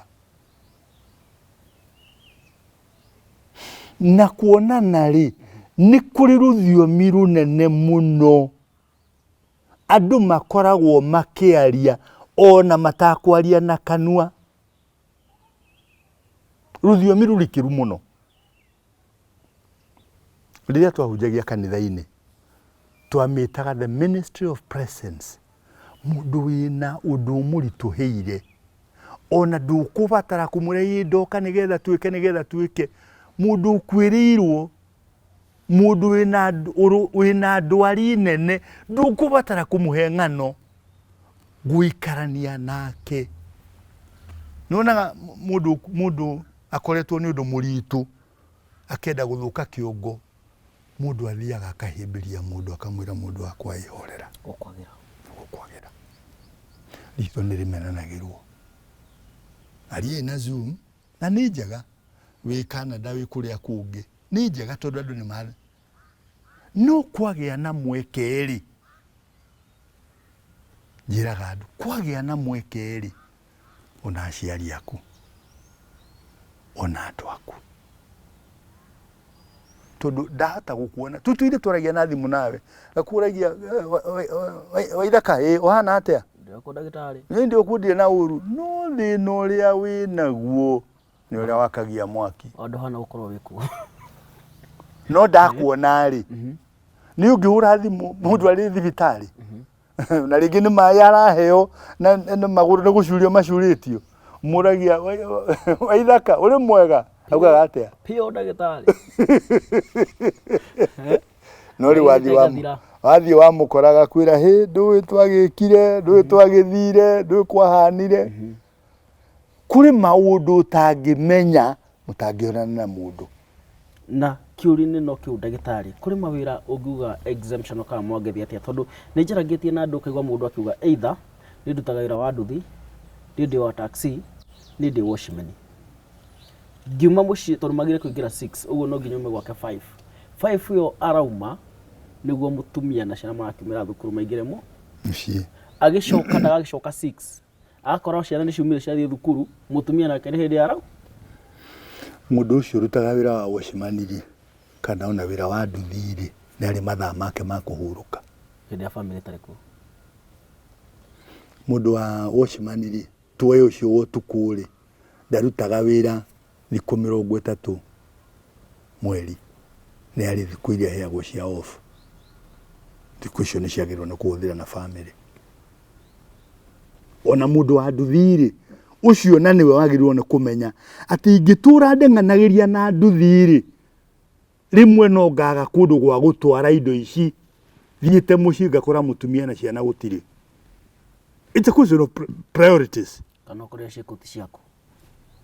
Na kuonana rĩ, nĩ kũrĩ rũthiomi rũnene mũno. Andũ makoragwo makĩaria ona matakwaria na kanua. Rũthiomi rũrikĩru mũno. Rĩrĩa twahunjagia kanitha-inĩ, twamĩtaga the ministry of presence. Mũndũ wĩna ũndũ ũmũritũhĩire, ona ndũkũbatara kũmwĩra ĩ ndoka nĩgetha twĩke nĩgetha twĩke. Mũndũ ũkuĩrĩirwo Mũndũ wĩna ndwari nene ndũkũbatara kũmũhe ng'ano gũikarania nake. Nĩwonaga mũndũ mũndũ akoretwo nĩ ũndũ mũritũ akenda gũthũka kĩongo mũndũ athiaga akahĩmbĩria mũndũ akamwĩra mũndũ wakwa ĩhorera gũkwagĩra gũkwagĩra ritho nĩ rĩmenanagĩrwo ariĩ na zoom na nĩ njega wĩ Canada wĩ kũrĩa kũngĩ nĩ njega tondũ andũ nĩ mara no kwagĩa na mweke rĩ njĩraga andũ kwagĩa na mweke rĩ ona aciari aku ona andũ aku tondu ndahota gukuona tu tuithe twaragia na thimu nawe ngakuragia waithaka ii uhana atia ndako ndagitari ni ndi ukundire na uru no thina uria wi naguo ni uria wakagia mwaki ondu hana gukorwo wikuo no ndakuona ri ni ungihura thimu mundu ari thibitari na rĩngĩ nĩ maĩ araheo na na magũrũ nĩ gũcurio macurĩtio mũragia waithaka ũrĩ mwega augaga atĩa Pio ndagĩtarĩ. no rĩ wathiĩ wa Gathira. wathiĩ wamũkoraga kwĩra hĩ ndũĩ twagĩkire ndũĩ twagĩthire ndũĩ kwahanire Kũrĩ maũndũ ũtangĩmenya mũtangĩonana na mũndũ. Na kĩũria-inĩ no kĩu ndagĩtarĩ, kũrĩ mawĩra ũngiuga exemption kana mwangethi atĩa? Tondũ nĩ njarangĩtie na andũ ũkaigua mũndũ akiuga either nĩ ndutaga wĩra wa nduthi, nĩ ndĩ wa taxi, nĩ ndĩ watchman. Ngiuma mũciĩ tondũ magĩrĩire kũingĩra six ũguo no nginya ume gwake five. Five ĩyo arauma nĩguo mũtumia na ciana marakiumĩra thukuru maingĩre mũciĩ. Agĩcoka ndagagĩcoka six. Akorwo ciana nĩ ciumire ciathiĩ thukuru, mũtumia nake nĩ hĩndĩ arau. Mũndũ ũcio ũrutaga wĩra wa wacimani-rĩ, kana ona wĩra wa nduthi-rĩ, nĩ arĩ mathaa make ma kũhurũka. Hĩndĩ ĩrĩa bamĩrĩ ĩtarĩ kuo. Mũndũ wa wacimani-rĩ, tuoe ũcio wa ũtukũ-rĩ, ndarutaga wĩra Thikũ mĩrongo ĩtatũ mweri nĩ harĩ thikũ iria iheagwo cia off. Thikũ icio nĩ ciagĩrĩirwo nĩ kũhũthĩra na bamĩrĩ. Ona mũndũ wa nduthi-rĩ, ũcio na nĩwe wagĩrĩirwo nĩ kũmenya atĩ ingĩtũra ndeng'anagĩria na nduthi-rĩ, Rĩmwe no ngaga kũndũ gwa gũtwara indo ici thiĩte mũciĩ ngakora mũtumia na ciana gũtirĩ. It's a question of priorities. Kana ũkorĩa ciakũ ti ciaku.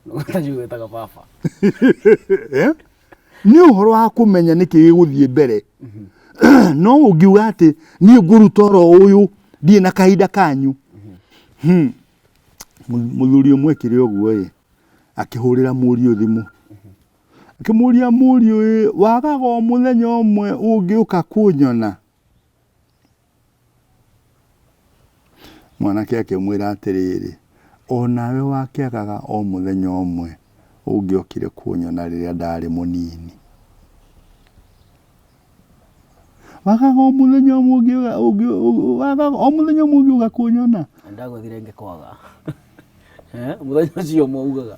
Ũtaciũ wĩtaga baba. Eh? Nĩ ũhoro wa kũmenya nĩkĩ gĩgũthiĩ mbere. Mm-hmm. No ũngiuga atĩ niĩ ngũruta oro ũyũ ndiĩ na kahinda kanyu. Mm-hmm. Hmm. Mũthuri ũmwe ekire ũguo ĩ akĩhũrĩra mũriũ thimũ. Akĩmũria mũriũ, ĩ, wagaga o mũthenya ũmwe ũngĩũka kũnyona? Mwanake akĩmwĩra atĩrĩrĩ, o nawe wakĩagaga o mũthenya ũmwe ũngĩokire kũnyona rĩrĩa ndarĩ mũnini. Wagaga o mũthenya ũmwe ũngĩũka- ũngĩ- ũngĩ- wagaga o mũthenya ũmwe ũngĩũka kũnyona? Ndagũthire ngĩkwaga. Eh, Mũthenya ũcio ũmwe ugaga.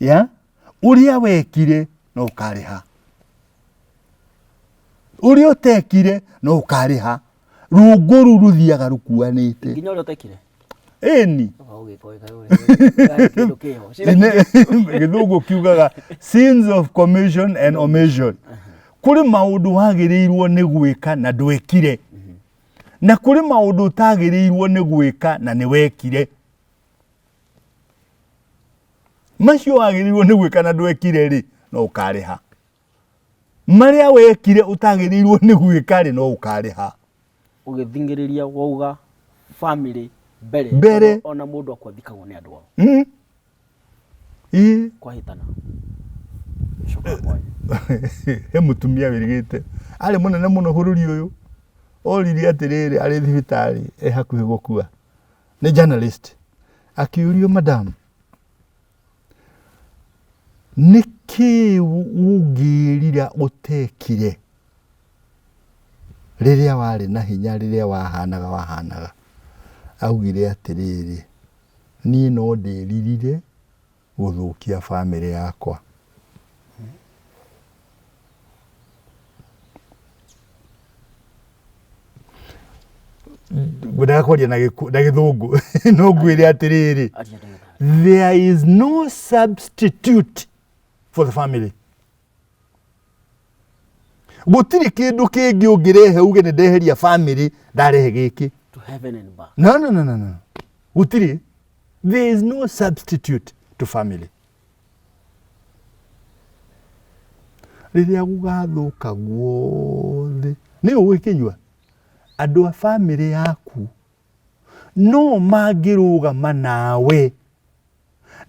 ya uria wekire no ukariha uria utekire no ukariha runguru ruthiaga rukuanite nginya uria utekire eni githungu kiugaga sins of commission and omission kuri maundu wagirirwo ni gwika na ndwekire na kuri maundu utagirirwo ni gwika na ni wekire macio wagĩrĩirwo nĩ gwĩka na ndwekire rĩ no ũkarĩha marĩa wekire ũtagĩrĩirwo nĩ gwĩka rĩ no ũkarĩha ũgĩthingĩrĩria wauga family mbere Mbere. ona- ona mũndũ akwa thikagwo nĩ andũ ao Mm. Ii. kwahĩtana coka kwanyu he mutumia wĩrigĩte arĩ mũnene mũno bũrũri ũyũ orire atĩrĩrĩ arĩ thibitarĩ e hakuhĩ gũkua nĩ journalist akĩũrio madam nĩ kĩĩ ũngĩrira ũtekire rĩrĩa warĩ na hinya rĩrĩa wahanaga wahanaga augire atĩrĩrĩ niĩ no ndĩririre gũthũkia bamĩrĩ yakwa. Ngwendaga kwaria na gĩthũngũ no ngwĩre atĩrĩrĩ there is no substitute for the family. gũtirĩ kĩndũ kĩngĩ ũngĩrehe uge nĩ ndeheria family ndarehe gĩkĩ to heaven and back no no no no no gũtirĩ there is no substitute to family rĩrĩa gũgathũka guothe nĩ ũgwĩkĩnyua andũ a family yaku no mangĩrũgama nawe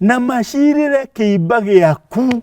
na macirĩre kĩimba gĩaku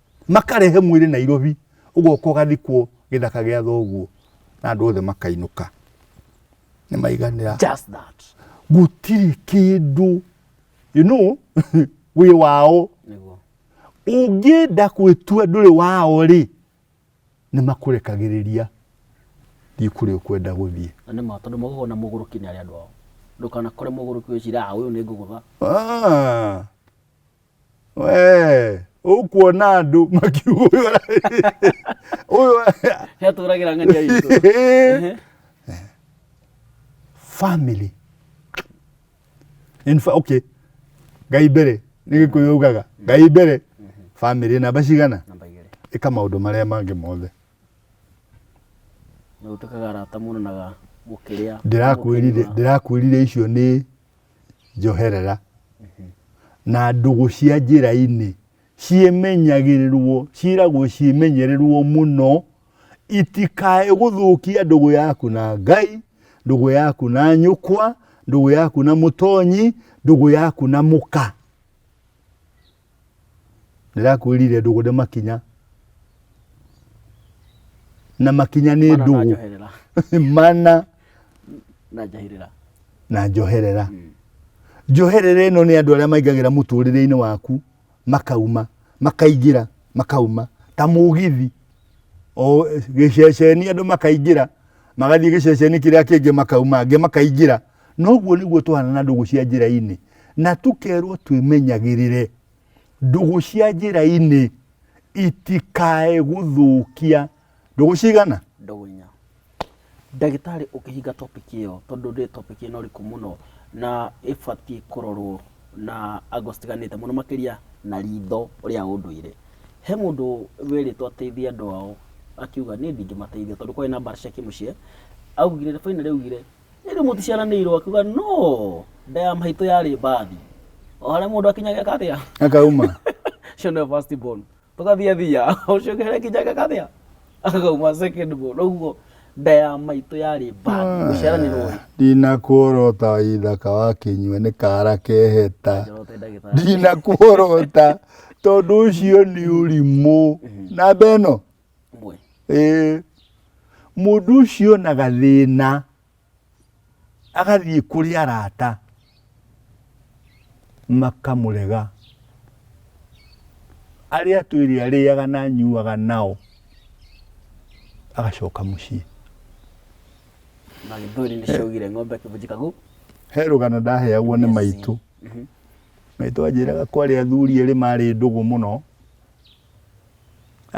makarehe mwĩrĩ nairobi ũgoka ũgathikwo gĩthaka gĩa thoguo na andũ othe makainũka nĩ maiganĩra Just that. gũtirĩ kĩndũ you know wĩ wao Nĩguo. ũngĩenda gwĩtua ndũrĩ wao rĩ nĩ makũrekagĩrĩria thiĩ kũrĩa ũkwenda gũthiĩ Na nĩ ma tondũ magũgwo na mũgũrũki nĩ arĩa andũ ao. Ndũkanakore mũgũrũki wĩcira "Ah, ũyũ nĩ ngũgũtha. Ah, Eh, ũkuona andũ makiuga ũyũ yatũragĩra ng'ania itũ family in fa okay ngai mbere nĩ gĩkũyũ ugaga ngai mbere family namba cigana namba igĩrĩ ĩka maũndũ marĩa mangĩ mothe nĩ ũtuĩkaga arata mũno na ga- gũkĩrĩa ndĩrakwĩrire ndĩrakwĩrire icio nĩ njoherera na ndũgũ cia njĩra-inĩ ciĩmenyagĩrĩrwo ciĩragwo ciĩmenyererwo mũno itikae gũthũkia ndũgũ yaku na ngai ndũgũ yaku na nyũkwa ndũgũ yaku na mũtonyi ndũgũ yaku na mũka ndĩrakwĩrire ndũgũ nĩ makinya na makinya nĩ Mana na ndũgũ njoherera. mana na njahĩrĩra na njoherera njoherera ĩno nĩ andũ arĩa maingagĩra mũtũrĩre-inĩ waku makauma makaingĩra makauma ta mũgithi o gĩceceni andũ makaingĩra magathiĩ gĩceceni kĩrĩa kĩngĩ makauma angĩ makaingĩra Noguo nĩguo tũhana na ndũgũ cia njĩra-inĩ, na tũkerwo twĩmenyagĩrĩre ndũgũ cia njĩra-inĩ itikae gũthũkia ndũgũ cigana ndũgũ inya ndagĩtarĩ ũkĩhinga topic ĩyo tondũ nĩ topic ĩno rĩkũ mũno na ĩbatiĩ kũrorwo na ango citiganĩte mũno makĩria na ritho rĩa ũndũire he mũndũ wĩrĩtwo ateithie andũ ao akiuga niĩ ndingĩmateithia tondũ kwarĩ na mbara cia kĩmũciĩ augire bainarĩ augire Ĩndĩ mũticiaranĩirwo, akiuga no, nda ya maitũ yarĩ mbathi. O harĩa mũndũ akinyaga eka atĩa? akauma Ũcio nĩwe first born. Tũgathiĩ thia, ũcio ũngĩ harĩa akinyaga eka atĩa? Akauma second born. Ũguo nda ya maitũ yarĩ mbathi. Gũciaranĩrwo rĩ, ndinakuorota ithaka wa kĩnyua nĩ kara keheta njoro te ndagĩtarĩ. ndinakuorota tondũ ũcio nĩ ũrimũ namba ĩno ũmwe Ĩĩ. mũndũ ũcio na gathĩna agathiĩ kũrĩ arata makamũrega arĩa twĩrĩ arĩaga na nyuaga nao agacoka mũciĩ na gĩthweri nĩ ciaugire ng'ombe kĩbunjika gũ he rũgano ndaheagwo nĩ Yes. maitũ Mhm. maitũ anjĩraga kwarĩ athuri erĩ marĩ ndũgũ mũno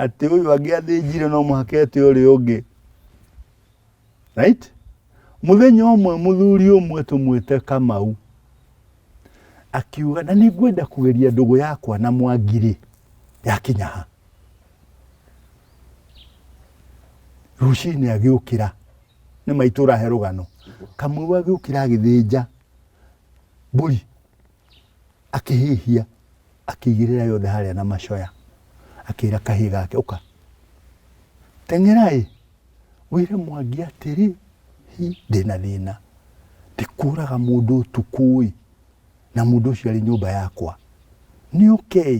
atĩ ũyũ angĩathĩnjire no mũhaka ete ũrĩa ũngĩ right mũthenya ũmwe mũthuri ũmwe tũmwĩte kamau akiuga na nĩ ngwenda kũgeria ndũgũ yakwa na mwangirĩ yakinya ha rũcinĩ agĩũkĩra nĩ maitũra he rũgano kamau agĩũkĩra agĩthĩnja mbũri akĩhĩhia akĩigĩrĩra yothe harĩa na macoya akĩra kahĩĩ gake ũka teng'eraĩ wĩre mwangi atĩrĩ hi ndĩna thĩna ndĩkũraga mũndũ ũtukũĩ na mũndũ ũcio arĩ nyũmba yakwa nĩ ũkei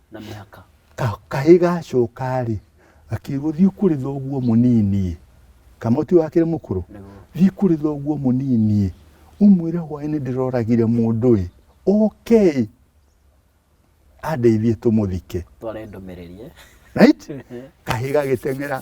na mĩhaka. Ka, kahĩ gacoka-rĩ, gakiugo thiĩ kũrĩ thoguo mũnini kamoti wakĩrĩ mũkũrũ thiĩ kũrĩ thoguo mũnini umwĩre hwaĩ-inĩ ndĩroragire mũndũ-ĩ oke-ĩ andeithie tũmũthike tware ndũmĩrĩrie right kahĩ gagĩteng'era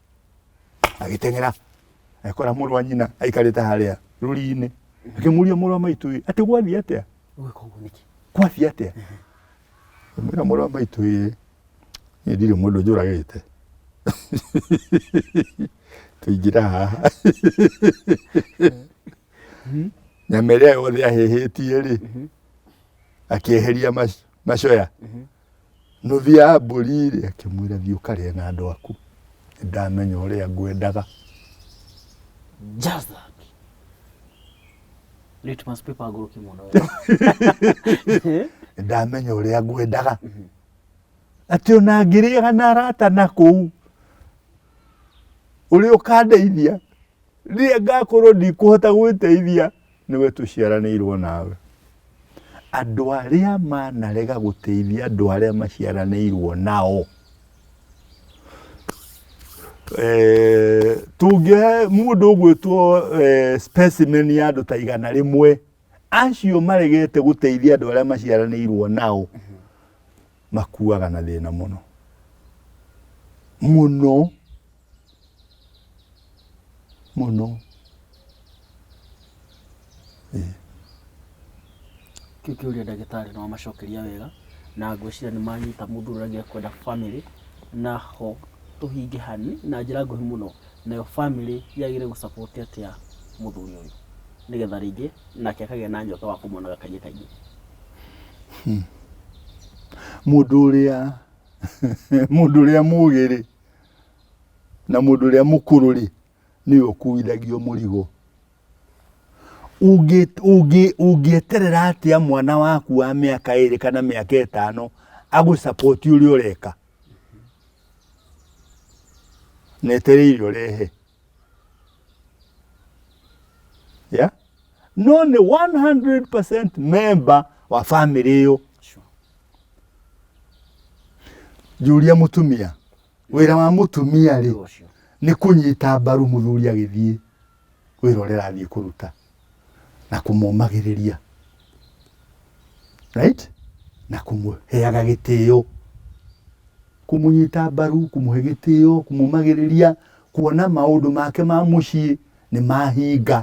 agĩteng'era ekora mũrũ wa nyina aikarĩte harĩa rũri-inĩ akĩmũria mũrũ wa maitũ ĩ atĩ gwathiĩ atĩa Ũgĩka ũguo nĩkĩ? gwathiĩ atĩa mwĩra mũrũ wa maitũ ĩ niĩ ndirĩ mũndũ njũragĩte tũingĩra haha nyama ĩrĩa yothe ahĩhĩtie rĩ akĩeheria mac- macoya Nũthi ya mbũri rĩ akĩmwĩra thiĩ ũkarĩe na andũ aku ndamenya ũrĩa ngwendaga Just that. Litmus paper agũrũki mũno. ndamenya ũrĩa ngwendaga atĩ ona ngĩrĩaga na arata na kũu ũrĩa ũkandeithia rĩrĩa ngakorwo ndikũhota gwĩteithia nĩwe tũciaranĩirwo nawe. Andũ arĩa manarega gũteithia andũ arĩa maciaranĩirwo nao eh, tũngĩhe mũndũ ũgwĩtwo eh, specimen ya andũ ta igana rĩmwe acio maregete gũteithia andũ arĩa maciaranĩirwo nao makuaga na thĩna mũno mũno mũno eh. kĩu kĩũria ndagĩtarĩ no amacokeria wega na ngwĩciria nĩ manyita mũndũ ũrĩa angĩkwenda family na ho tũhinge hani na njĩra nguhĩ mũno nayo family yagĩrĩire gũcapoti atĩa mũthuri ũyũ nĩgetha rĩngĩ nake akagĩa na nyota wa kũmonaga kaingĩ kaingĩ hmm. mũndũ ũrĩa mũndũ ũrĩa mũgĩ rĩ na mũndũ ũrĩa mũkũrũ rĩ nĩwe ũkuithagio mũrigo ũngĩeterera atĩa mwana waku wa mĩaka ĩrĩ kana mĩaka ĩtano agũsapoti ũrĩa ũreka na etereire ũrehe yeah? no nĩ 100% member wa family ĩyo Sure. njũria mũtumia wĩra wa mũtumia rĩ Ũcio. nĩ kũnyita mbaru mũthuri agĩthiĩ wĩra ũrĩa arathiĩ kũruta na kũmũmagĩrĩria right na kũmũheaga gĩtĩo kũmũnyita mbaru kũmũhe gĩtĩo kũmũmagĩrĩria kuona maũndũ make ma mũciĩ nĩ mahinga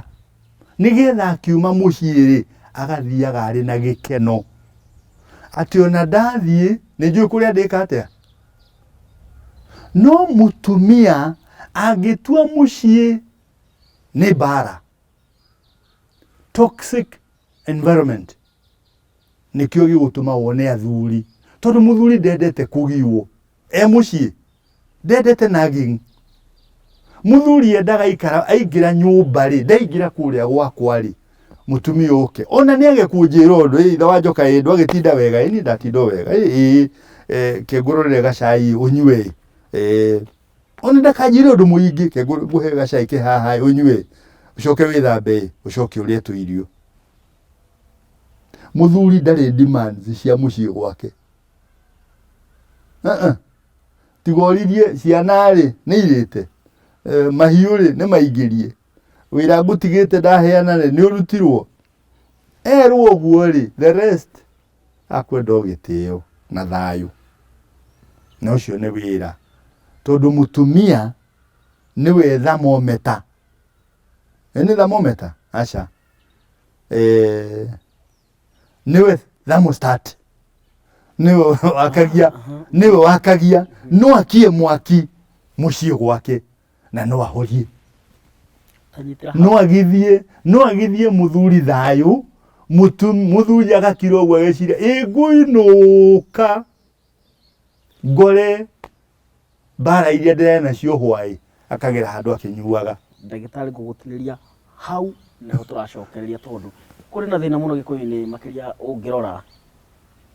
nĩgetha akiuma mũciĩ rĩ agathiaga arĩ na gĩkeno atĩ ona ndathiĩ nĩ njũĩ kũrĩa ndĩka atĩa no mũtumia angĩtua mũciĩ nĩ mbara. Toxic environment nĩkĩo gĩgũtũma wone athuri, tondũ mũthuri ndendete kũgiwo e mũciĩ, ndendete nagging. Mũthuri endaga aikara, aingĩra nyũmba rĩ, ndaingĩra kũrĩa gwakwa rĩ, mũtumia oke. Ona nĩ age kũnjĩra ũndũ, ĩ ithe wa njoka ĩ ndwagĩtinda wega, ĩ niĩ ndatinda o wega, ĩ ĩ kĩngũrũrĩre gacai ũnyue ĩ. ona ndakanjire undu muingi ke nguhe gacai ke haha unyue ucoke withambe ucoke urie tu irio muthuri ndari demands cia mucii gwake uh-uh. tiga oririe ciana ri ni irite eh, mahiu ri ni maingirie wira ngutigite ndaheana ri ni urutirwo erwo guo ri the rest Akwenda o gĩtĩo na thayũ. Na ũcio nĩ wĩra. Tondũ mũtumia nĩwe thamometa. Ĩ nĩ thamometa? Aca. Nĩwe thermostat. Nĩwe wakagia, nĩwe wakagia. No akie mwaki mũciĩ gwake. na no ahorie Anyitĩra hau. no agithie no agithie muthuri thayũ mutu muthuri agakira ũguo ageciria ĩ ngũinũka ngore mbara iria ndĩrarĩ nacio hwaĩ akagera handũ akĩnyuaga ndagĩtarĩ ngũgũtinĩria hau nĩho tũracokereria tondũ kũrĩ na thĩna mũno gĩkũyũ-inĩ makĩria ũngĩrora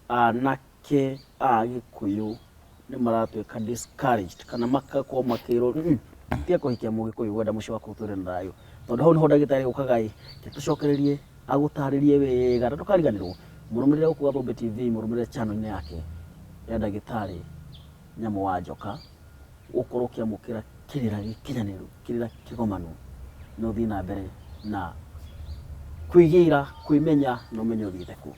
ah, na anake a gĩkũyũ nĩ maratuĩka discouraged kana magakorwo makĩrwo "Mm, tiga kũhikia mũgĩkũyũ gwenda mũciĩ waku ũtũre na thayũ tondũ hau nĩho ndagĩtarĩ ũkaga ĩ tũcokererie agũtarĩrie wega na ndũkariganĩrwo mũrũmĩrĩre gũkũ gathũmbĩ tv mũrũmĩrĩre channel-inĩ yake ya ndagĩtarĩ nyamũ wa njoka ũkorwo ũkĩamũkĩra kĩrĩra gĩkinyanĩru kĩrĩra kĩgomanu na ũthiĩ na mbere na kwĩgĩra kwĩmenya na ũmenye ũthiĩte kũ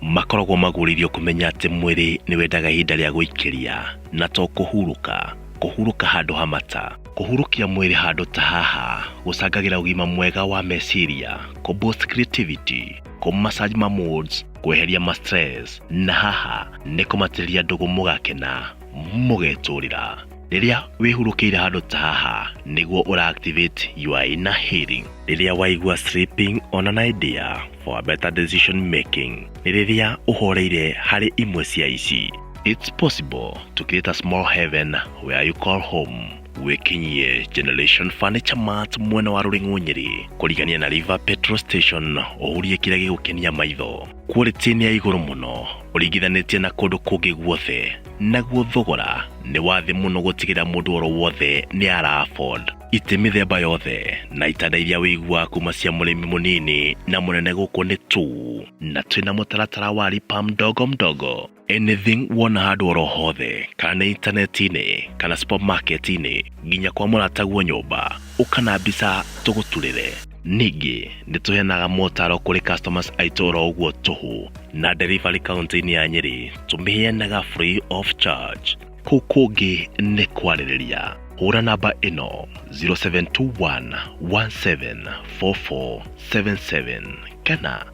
makoragwo magũrĩirio kũmenya atĩ mwĩrĩ nĩ wendaga ihinda rĩa gũikĩria na to kũhurũka kũhurũka handũ ha mata kũhurũkia mwĩrĩ handũ ta haha gũcangagĩra ũgima mwega wa meciria kũ boost creativity kũ massage ma moods kweheria ma stress na haha nĩ kũmatĩrĩria ndũgũ mũgakena mũgetũrĩra Rĩrĩa wĩhurũkĩire handũ ta haha nĩguo ũra activate your inner healing. Rĩrĩa waigua sleeping on an idea for a better decision making nĩ rĩrĩa ũhoreire harĩ imwe cia ici. It's possible to create a small heaven where you call home wĩkinyie Generation Furniture Mart mwena wa Rũrĩng'ũ Nyĩrĩ kũrigania na River Petrol Station ũhurie kĩrĩa gĩgũkenia maitho. quality nĩ ya igũrũ mũno ũringithanĩtie na kũndũ kũngĩ guothe naguo thogora nĩ wa thĩ mũno gũtigĩra mũndũ oro wothe nĩ ara afford itĩ mĩthemba yothe na itanda iria wĩiguaga kuma cia mũrĩmi mũnini na mũnene gũkũ nĩ tu na twĩna mũtaratara wa ripam ndogo mdogo anything wona handũ oro hothe kana nĩ intaneti-inĩ kana supermarket-inĩ nginya kwa mũrataguo nyũmba ũka na mbica tũgũturĩre ningĩ nĩ tũheanaga motaro kũrĩ customers aitũ oro ũguo tũhũ na delivery kaunti-inĩ ya nyĩrĩ tũmĩheanaga free of charge kũu kũngĩ nĩ kwarĩrĩria hũra namba ĩno 0721 174477 kana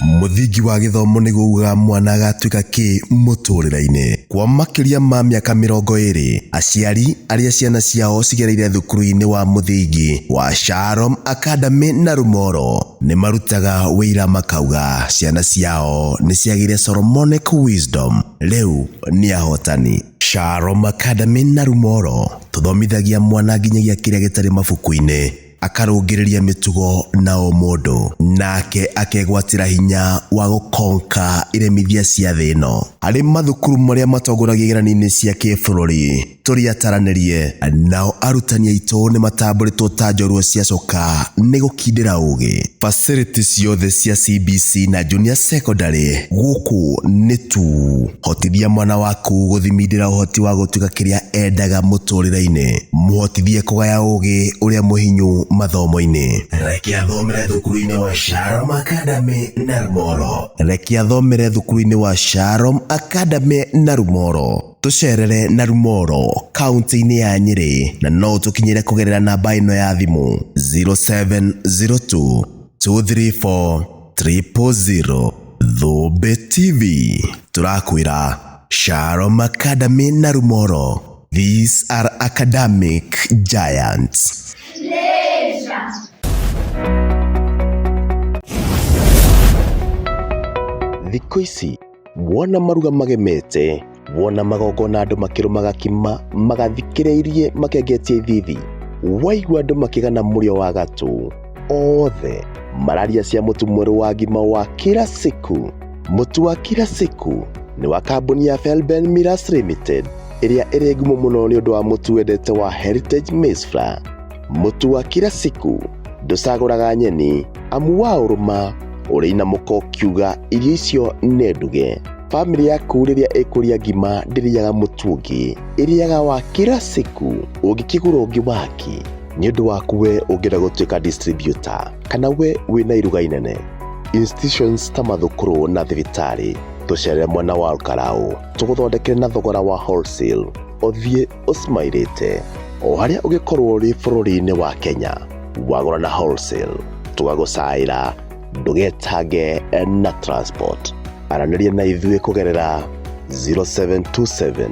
mũthingi wa gĩthomo nĩ kuuga mwana agatuĩka kĩ mũtũrĩre-inĩ kwa makĩria ma mĩaka mĩrongo ĩrĩ aciari arĩa ciana ciao cigereire thukuru-inĩ wa mũthingi wa Shalom Academy na Rumoro nĩ marutaga wĩira makauga ciana ciao nĩ ciagĩire Solomonic Wisdom rĩu nĩ ahotani Shalom Academy na Rumoro tũthomithagia mwana nginyagia kĩrĩa gĩtarĩ mabuku-inĩ akarũngĩrĩria mĩtugo na ũmũndũ, nake akegwatĩra hinya wa gũkonka iremithia cia thĩ ĩno. Harĩ mathukuru marĩa matongoragia igeranio-inĩ cia kĩbũrũri, tũriataranĩrie, nao arutani aitũ nĩmatambũrĩtwo ta njorua ciacoka nĩ gũkindĩra ũgĩ. Facility ciothe cia CBC na Junior Secondary gũkũ nĩ tu. Hotithia mwana waku gũthimindĩra ũhoti wa gũtuĩka kĩrĩa endaga mũtũrĩre-inĩ. Mũhotithie kũgaya ũgĩ ũrĩa mũhinyu mathomo-inĩ. Reke athomere thukuru-inĩ wa Sharom Academy Narumoro. Reke athomere thukuru-inĩ wa Sharom Academy Narumoro. Tũcerere na Rumoro kaunti-inĩ ya Nyĩrĩ na no ũtũkinyĩre kũgerera namba ĩno ya thimũ 0702 234 000. Thũmbĩ TV tũrakwĩra Shalom Academy na Rumoro. These are academic giants. Thikũ ici wona maruga magemete wona magongona andũ makĩrũmaga kima magathikĩrĩirie makengetie ithithi waigua andũ makĩgana mũrĩo wa gatũ othe mararia cia mũtu mwerũ wa ngima wa kila siku mũtu wa kila siku nĩ wa kambuni ya felben miras limited ĩrĩa ĩrĩ ngumo mũno nĩ ũndũ wa mũtu wendete wa heritage maize flour Mũtu wa kila siku ndũcagũraga nyeni amu wa ũrũma ũrĩ na mũko kiuga irio icio nĩ nduge. Famĩlĩ yaku rĩrĩa ĩkũrĩa ngima ndĩrĩaga mũtu ũngĩ, ĩrĩaga wa kila siku ũngĩkĩgũra ũngĩ waki nĩ ũndũ waku we ũngĩenda gũtuĩka distributor kana we wĩ na iruga inene. Institutions ta mathukuru na thibitarĩ tũcerere mwena wa Olkalau tũgũthondekere na thogora wa wholesale ũthiĩ ũcimairĩte o harĩa ũgĩkorwo ũrĩ bũrũri-inĩ wa kenya wagũra na wholesale tũgagũcaĩra ndũgetange na transport aranĩria na ithuĩ kũgerera 0727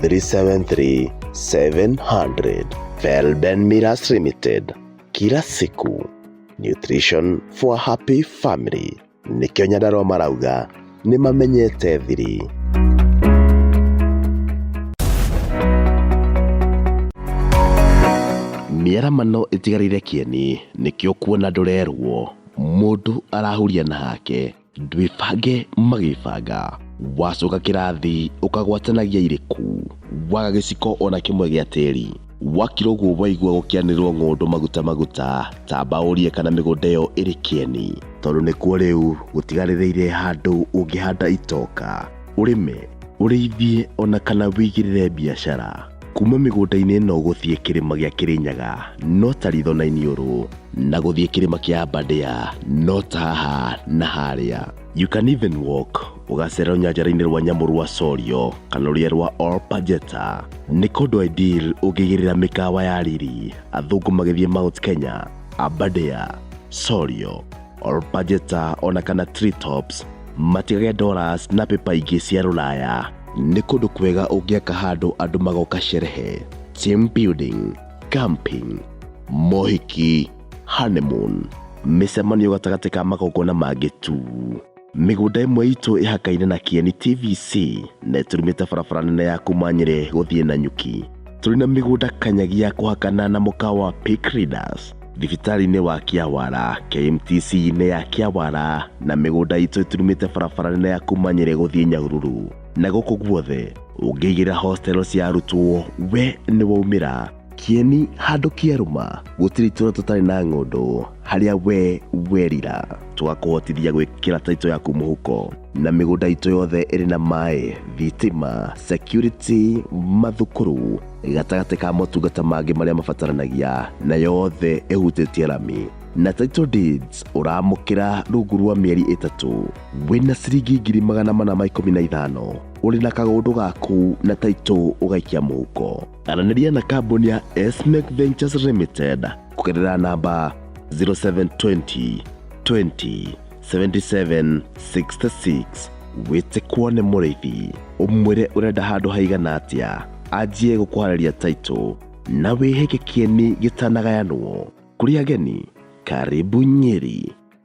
373 700 Felben Miras Limited kila siku nutrition for a happy family nĩkĩo nyandarũa marauga nĩ mamenyete thiri mĩaramano ĩtigarĩire kĩeni nĩkĩo kuona ndũrerwo mũndũ arahuria na hake ndwĩbange magĩbanga wacoka kĩrathi ũkagwatanagia irĩkũ waga gĩciko ona kĩmwe gĩa tĩri Wakira ũguo waigua gũkĩanĩrwo ng'ũndũ maguta maguta, tamba ũrie kana mĩgũnda ĩyo ĩrĩ kĩeni. Tondũ nĩkuo rĩu gũtigarĩrĩire handũ ũngĩhanda itoka, ũrĩme, ũrĩithie ona kana wĩigĩrĩre biacara. Kuma mĩgũnda-inĩ ĩno gũthiĩ kĩrĩma gĩa Kĩrĩnyaga no ta ritho na iniũrũ, na gũthiĩ kĩrĩma kĩa Aberdare no ta haha na harĩa. You can even walk ũgacera rũnyanjara-inĩ rwa nyamũ rwa Sorio kana rũrĩa rwa Olpajeta nĩ kũndũ ideal ũngĩgĩrĩra mĩkawa ya riri athũngũ magĩthiĩ Mount Kenya, Aberdare, Sorio, Olpajeta ona kana Treetops matigage dollars na pepa ingĩ cia rũraya nĩ kũndũ kwega ũngĩaka handũ andũ magoka sherehe, team building, camping, mohiki Honeymoon, mĩcemanio gatagatĩ ka magongona mangĩ tu. Mĩgũnda ĩmwe itũ ĩhakaine na Kieni TVC na ĩtũrumĩte barabara nene ya kuma Nyĩrĩ gũthiĩ na Nyuki. Tũrĩ na mĩgũnda kanyagia kũhakana na mũkawa wa Peak Readers, thibitarĩ-inĩ wa Kĩawara, KMTC-inĩ ya Kĩawara na mĩgũnda itũ ĩturumĩte barabara nene ya kuma Nyĩrĩ gũthiĩ Nyahururu. Na gũkũ guothe ũngĩigĩra hostelo cia arutwo we nĩ waumĩra. Kieni handũ kĩarũma gũtirĩ itũra tũtarĩ na ng'ũndũ harĩa we werira twakũhotithia gwĩkĩra taito yaku mũhuko na mĩgũnda itũ yothe ĩrĩ na maĩ thitima security mathukuru gatagatĩ ka motungata mangĩ marĩa mabataranagia na yothe ĩhutĩtie rami na title deeds ũramũkĩra rungu rwa mĩeri ĩtatũ wĩna ciringi ngiri magana mana ma ikũmi na ithano ũrĩ na kagũndũ gaku na taito ũgaikia mũhuko Aranĩria na kambuni ya Esmec Ventures Limited kũgerera namba 0720 20 77 66 wĩte kuone mũrĩithi ũmwĩre ũrenda handũ haigana atĩa anjie gũkũharĩria taitũ na wĩhĩke kĩeni gĩtanagayanwo kũrĩ ageni karibu nyeri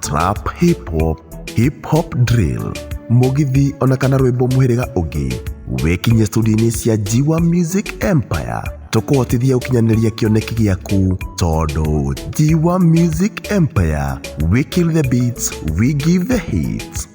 trap hip hop hip hop drill mũgithi ona kana rwĩmbo mũhĩrĩga ũngĩ wĩkinyie studio-inĩ cia jiwa music empire tũkũhotithia gũkinyanĩria kĩoneki gĩaku tondũ jiwa music empire we kill the beats we give the hits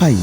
Pai.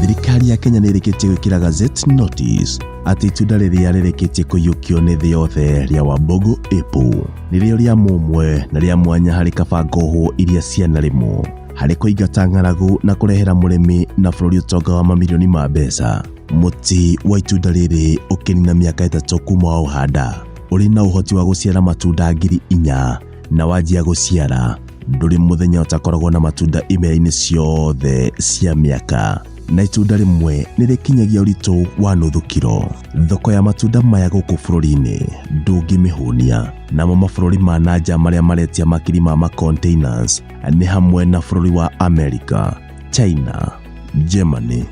Thirikari ya Kenya nĩ ĩrĩkĩtie gwĩkĩra Gazette Notice atĩ itunda rĩrĩa rĩrĩkĩtie kũiyũkio nĩ thĩ yothe rĩa Wambogo Apple nĩrĩo rĩa mũmwe na rĩa mwanya harĩ kabango hũ iria cianarĩmwo harĩ kũingata ng'aragu na kũrehera mũrĩmi na bũrũri ũtonga wa mamirioni ma mbeca. Mũtĩ wa itunda rĩrĩ ũkĩnina mĩaka ĩtatũ kuma wa ũhanda ũrĩ na ũhoti wa gũciara matunda ngiri inya na wanjia gũciara ndũrĩ mũthenya ũtakoragwo na matunda imera-inĩ ciothe cia mĩaka na itunda rĩmwe nĩ rĩkinyagia ũritũ wa nuthu kiro thoko ya matunda maya gũkũ bũrũri-inĩ ndũngĩmĩhũnia namo mabũrũri ma nanja marĩa maretia makiri ma macontainers nĩ hamwe na bũrũri wa america china germany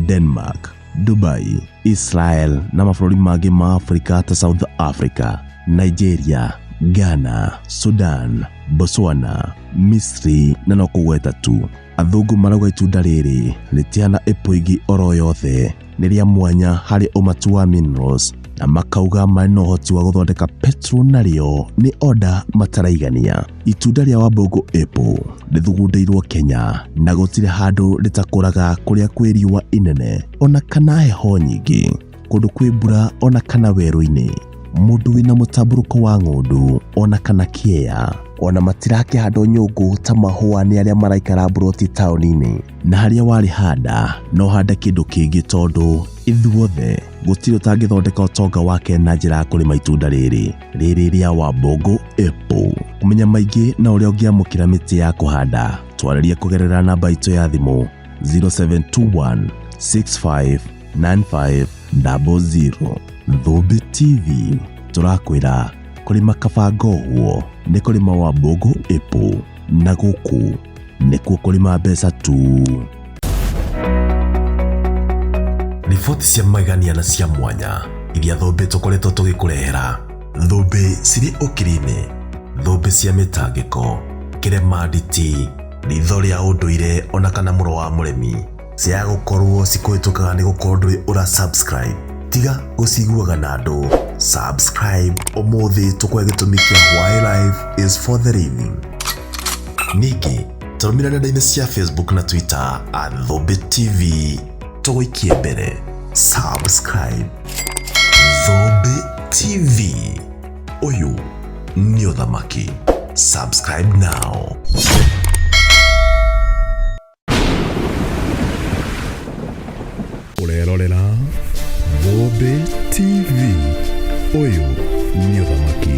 denmark Dubai, Israel na mabũrũri mangĩ ma Afrika ta South Africa, Nigeria, Ghana, Sudan, Botswana, Misri na no kũgweta tu. Athũngũ marauga itunda rĩrĩ rĩtihana ĩpũ ĩngĩ oro yothe, nĩ rĩa mwanya harĩ ũmatu wa minerals na makauga marĩ na ũhoti wa gũthondeka petrol narĩo nĩ oda mataraigania. Itunda rĩa Wambũngũ Apple rĩthugundĩirwo Kenya na gũtirĩ handũ rĩtakũraga kũrĩa kwĩ riũa inene ona kana heho nyingĩ, kũndũ kwĩ mbura ona kana werũ-inĩ, mũndũ wĩna mũtambũrũko wa ng'ũndũ ona kana kĩea. Ona matirakĩhandwo nyũngũ ta mahũa nĩ arĩa maraikara mburoti taũni-inĩ. Na harĩa warĩhanda no hande kĩndũ kĩngĩ tondũ ithuothe gũtirĩ ũtangĩthondeka ũtonga wake na njĩra ya kũrĩma itunda rĩrĩ. rĩrĩ rĩa Wambogo Apple. Kũmenya maingĩ na ũrĩa ũngĩamũkĩra mĩtĩ ya kũhanda, twarĩrie kũgerera namba itũ ya thimũ 0721 65 95 00. Thũmbĩ TV tũrakwĩra kũrĩma kabangohwo nĩ kũrĩma Wambogo Apple na gũkũ nĩkuo kũrĩma mbeca tu. Riboti cia magegania na cia mwanya iria thũmbĩ tũkoretwo tũgĩkũrehera. Thũmbĩ cirĩ ũkiri-inĩ, thũmbĩ cia mĩtangĩko, kĩremanditi, ritho rĩa ũndũire ona kana mũro wa mũremi. ciaga gũkorwo cikũhĩtũkaga nĩ gũkorwo ndũrĩ ũra subscribe tiga gũciguaga na andũ subscribe ũmũthĩ tũkwe gĩtũmi kĩa why life is for the living ningĩ tũrũmĩra nenda-inĩ cia facebook na twitter at thũmbĩ tv tũgũikie mbere subscribe thũmbĩ tv ũyũ nĩ ũthamaki subscribe now ũrerorera Thũmbĩ TV ũyũ nĩ ũthamaki